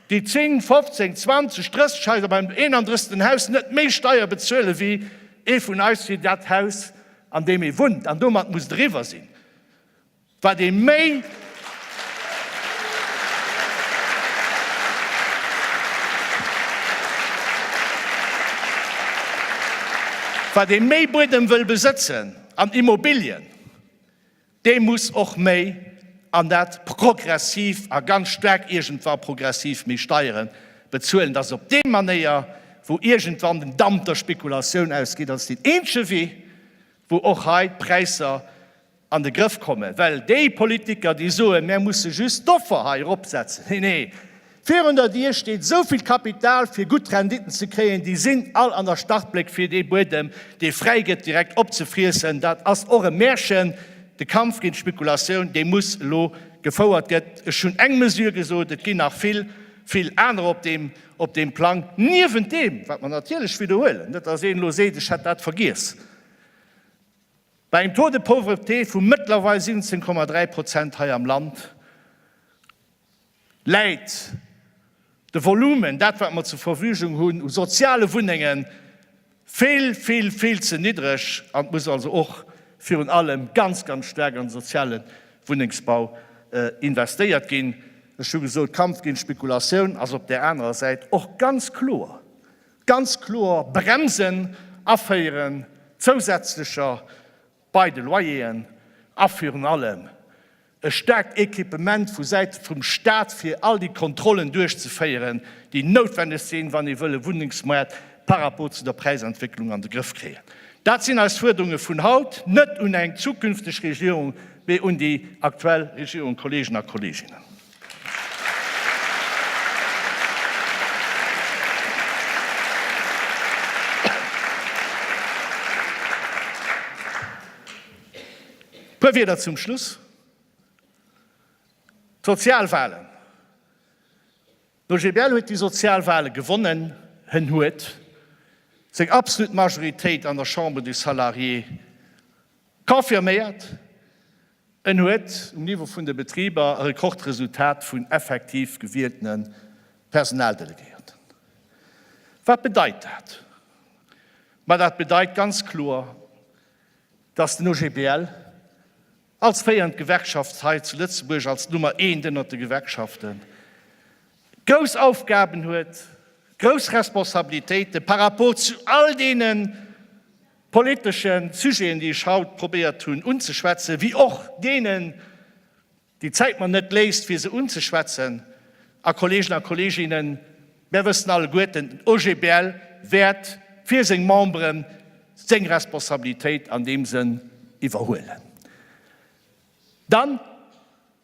déi 10, 15, 20, 30 Häiser beim 31. Haus net méi Steier bezuelen, wéi ee vun eis fir dat Haus, an deem ee wunnt, an domat muss driwwer sinn. Wat ee méi Buedem wëll besëtzen an Immobilien, dee muss och méi, an dat progressiv a ganz staark iergendwa progressiv, méi Steiere bezuelen. Dat ass op déi Manéier, wou iergendwann den Damp der Spekulatioun ausgeet. Dat ass deen eenzege Wee, wou och hei d'Präisser an de Grëff kommen, well déi Politiker, déi soen, mär musse just d'Offer hei eropsetzen, nee, nee, virun der Dier steet esou vill Kapital, fir gutt Renditen ze kréien, déi sinn all an der Startbléck, fir dee Buedem, dee fräi gëtt, direkt opzefriessen. Dat ass och e Märchen. De Kampf géint d'Spekulatioun, dee muss elo gefouert gëtt. Ech hunn eng Mesure gesot, et ginn nach vill, vill anerer op deem, op deem Plang, niewent deem, wat mer natierlech widderhuelen, net datt een elo seet, ech hätt dat vergiess, Bei engem Taux de pauvreté vu mëttlerweil 17,3 Prozent hei am Land läit de Volumen, dat wat mer zur Verfügung hunn u soziale Wunnengen, vill, vill, vill ze niddreg an et muss also och virun allem ganz, ganz staark an de soziale Wunnengsbau investéiert ginn. Ech hu gesot, Kampf géint d'Spekulatioun ass op där anerer Säit och ganz kloer Ganz kloer bremsen, aféieren zousätzlecher bei de Loyeren a virun allem e staarkt Equipement vu Säite vum Staat fir all déi Kontrollen duerchzeféieren, déi noutwendeg sinn, wann ee wëll e Wunnengsmoart par rapport zu der Präisentwécklung an de Grëff kréien. Dat sinn eis Fuerderunge vun haut, net un eng zukünfteg Regierung, mee un déi aktuell Regierung, Kolleegen a Kolleeginnen. Puer Wieder zum Schluss. D'Sozialwahlen. De GBL huet déi Sozialwahle gewonnen. Hen huet seng absolut Majoritéit an der Chambre des Salariés confirméiert. En huet um Niveau vun de Betriber e Rekordresultat vun effektiv gewieltene Personaldelegéierten. Wat bedeit dat? Ma dat bedeit ganz kloer, datt den OGBL als féiernd Gewerkschaft hei zu Lëtzebuerg, als Nummer eent ënnert de Gewerkschaften, grouss Aufgaben huet, grouss Responsabilitéite par rapport zu all deenen, politeschen Sujeten, déi ech haut probéiert hunn unzeschwätzen, wéi och deenen, déi d'Zäit mer net léisst, fir se unzeschwätzen. A Kolleegen a Kolleeginnen, mär wëssen alleguerten, den OGBL wäert fir seng Memberen seng Responsabilitéit an deem Sënn iwwerhuelen. Dann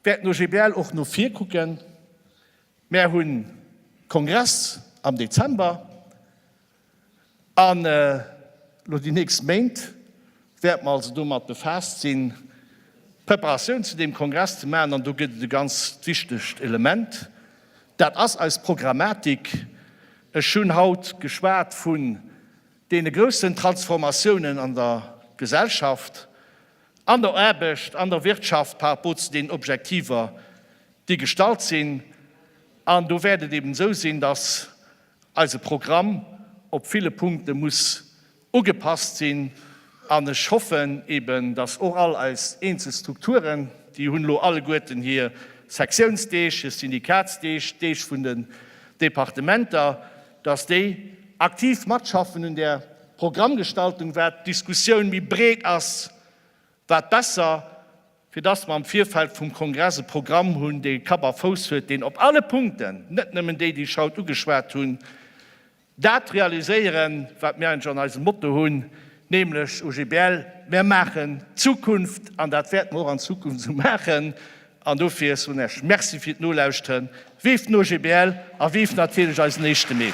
wäert den OGBL och no vir kucken. Mär hunn Kongress am Dezember. An elo déi nächst Méint wäerte mer also domat befaasst sinn, d'Preparatioun zu deem Kongress ze maachen. An do gëtt et e ganz wichtegt Element, dat ass eis Programmatik. Ech hunn haut geschwat vun deene groussen Transformatiounen an der Gesellschaft, an der Aarbecht, an der Wirtschaft par rapport zu deenen Objektiver, déi gestallt sinn. An do wäert et eben esou sinn, dass eise Programm op ville Punkte muss ugepasst sinn an ech hoffen eben, dass och all eis eenzel Strukturen, déi hunn elo alleguerten hir Sektiounsdeeg, hir Syndikatsdeeg, d'Deeg vun den Departementer, dass déi aktiv matschaffen un där Programmgestaltung, wat d'Diskussioun méi breet ass, wat besser fir dass mer am Virfeld vum Kongress e Programm hunn, dee Kapp a Fouss huet, deen op alle Punkten, net nëmmen déi, déi ech haut ugeschwat hunn, dat realiséieren, wat mir eigentlech an eisem Motto hunn, nämlech OGBL, Mer maachen d'Zukunft, an dat wäerte mer och an Zukunft esou maachen. An dofir soen ech Merci fir d'Nolauschteren. Vive den OGBL a vive natierlech eisen éischte Mee!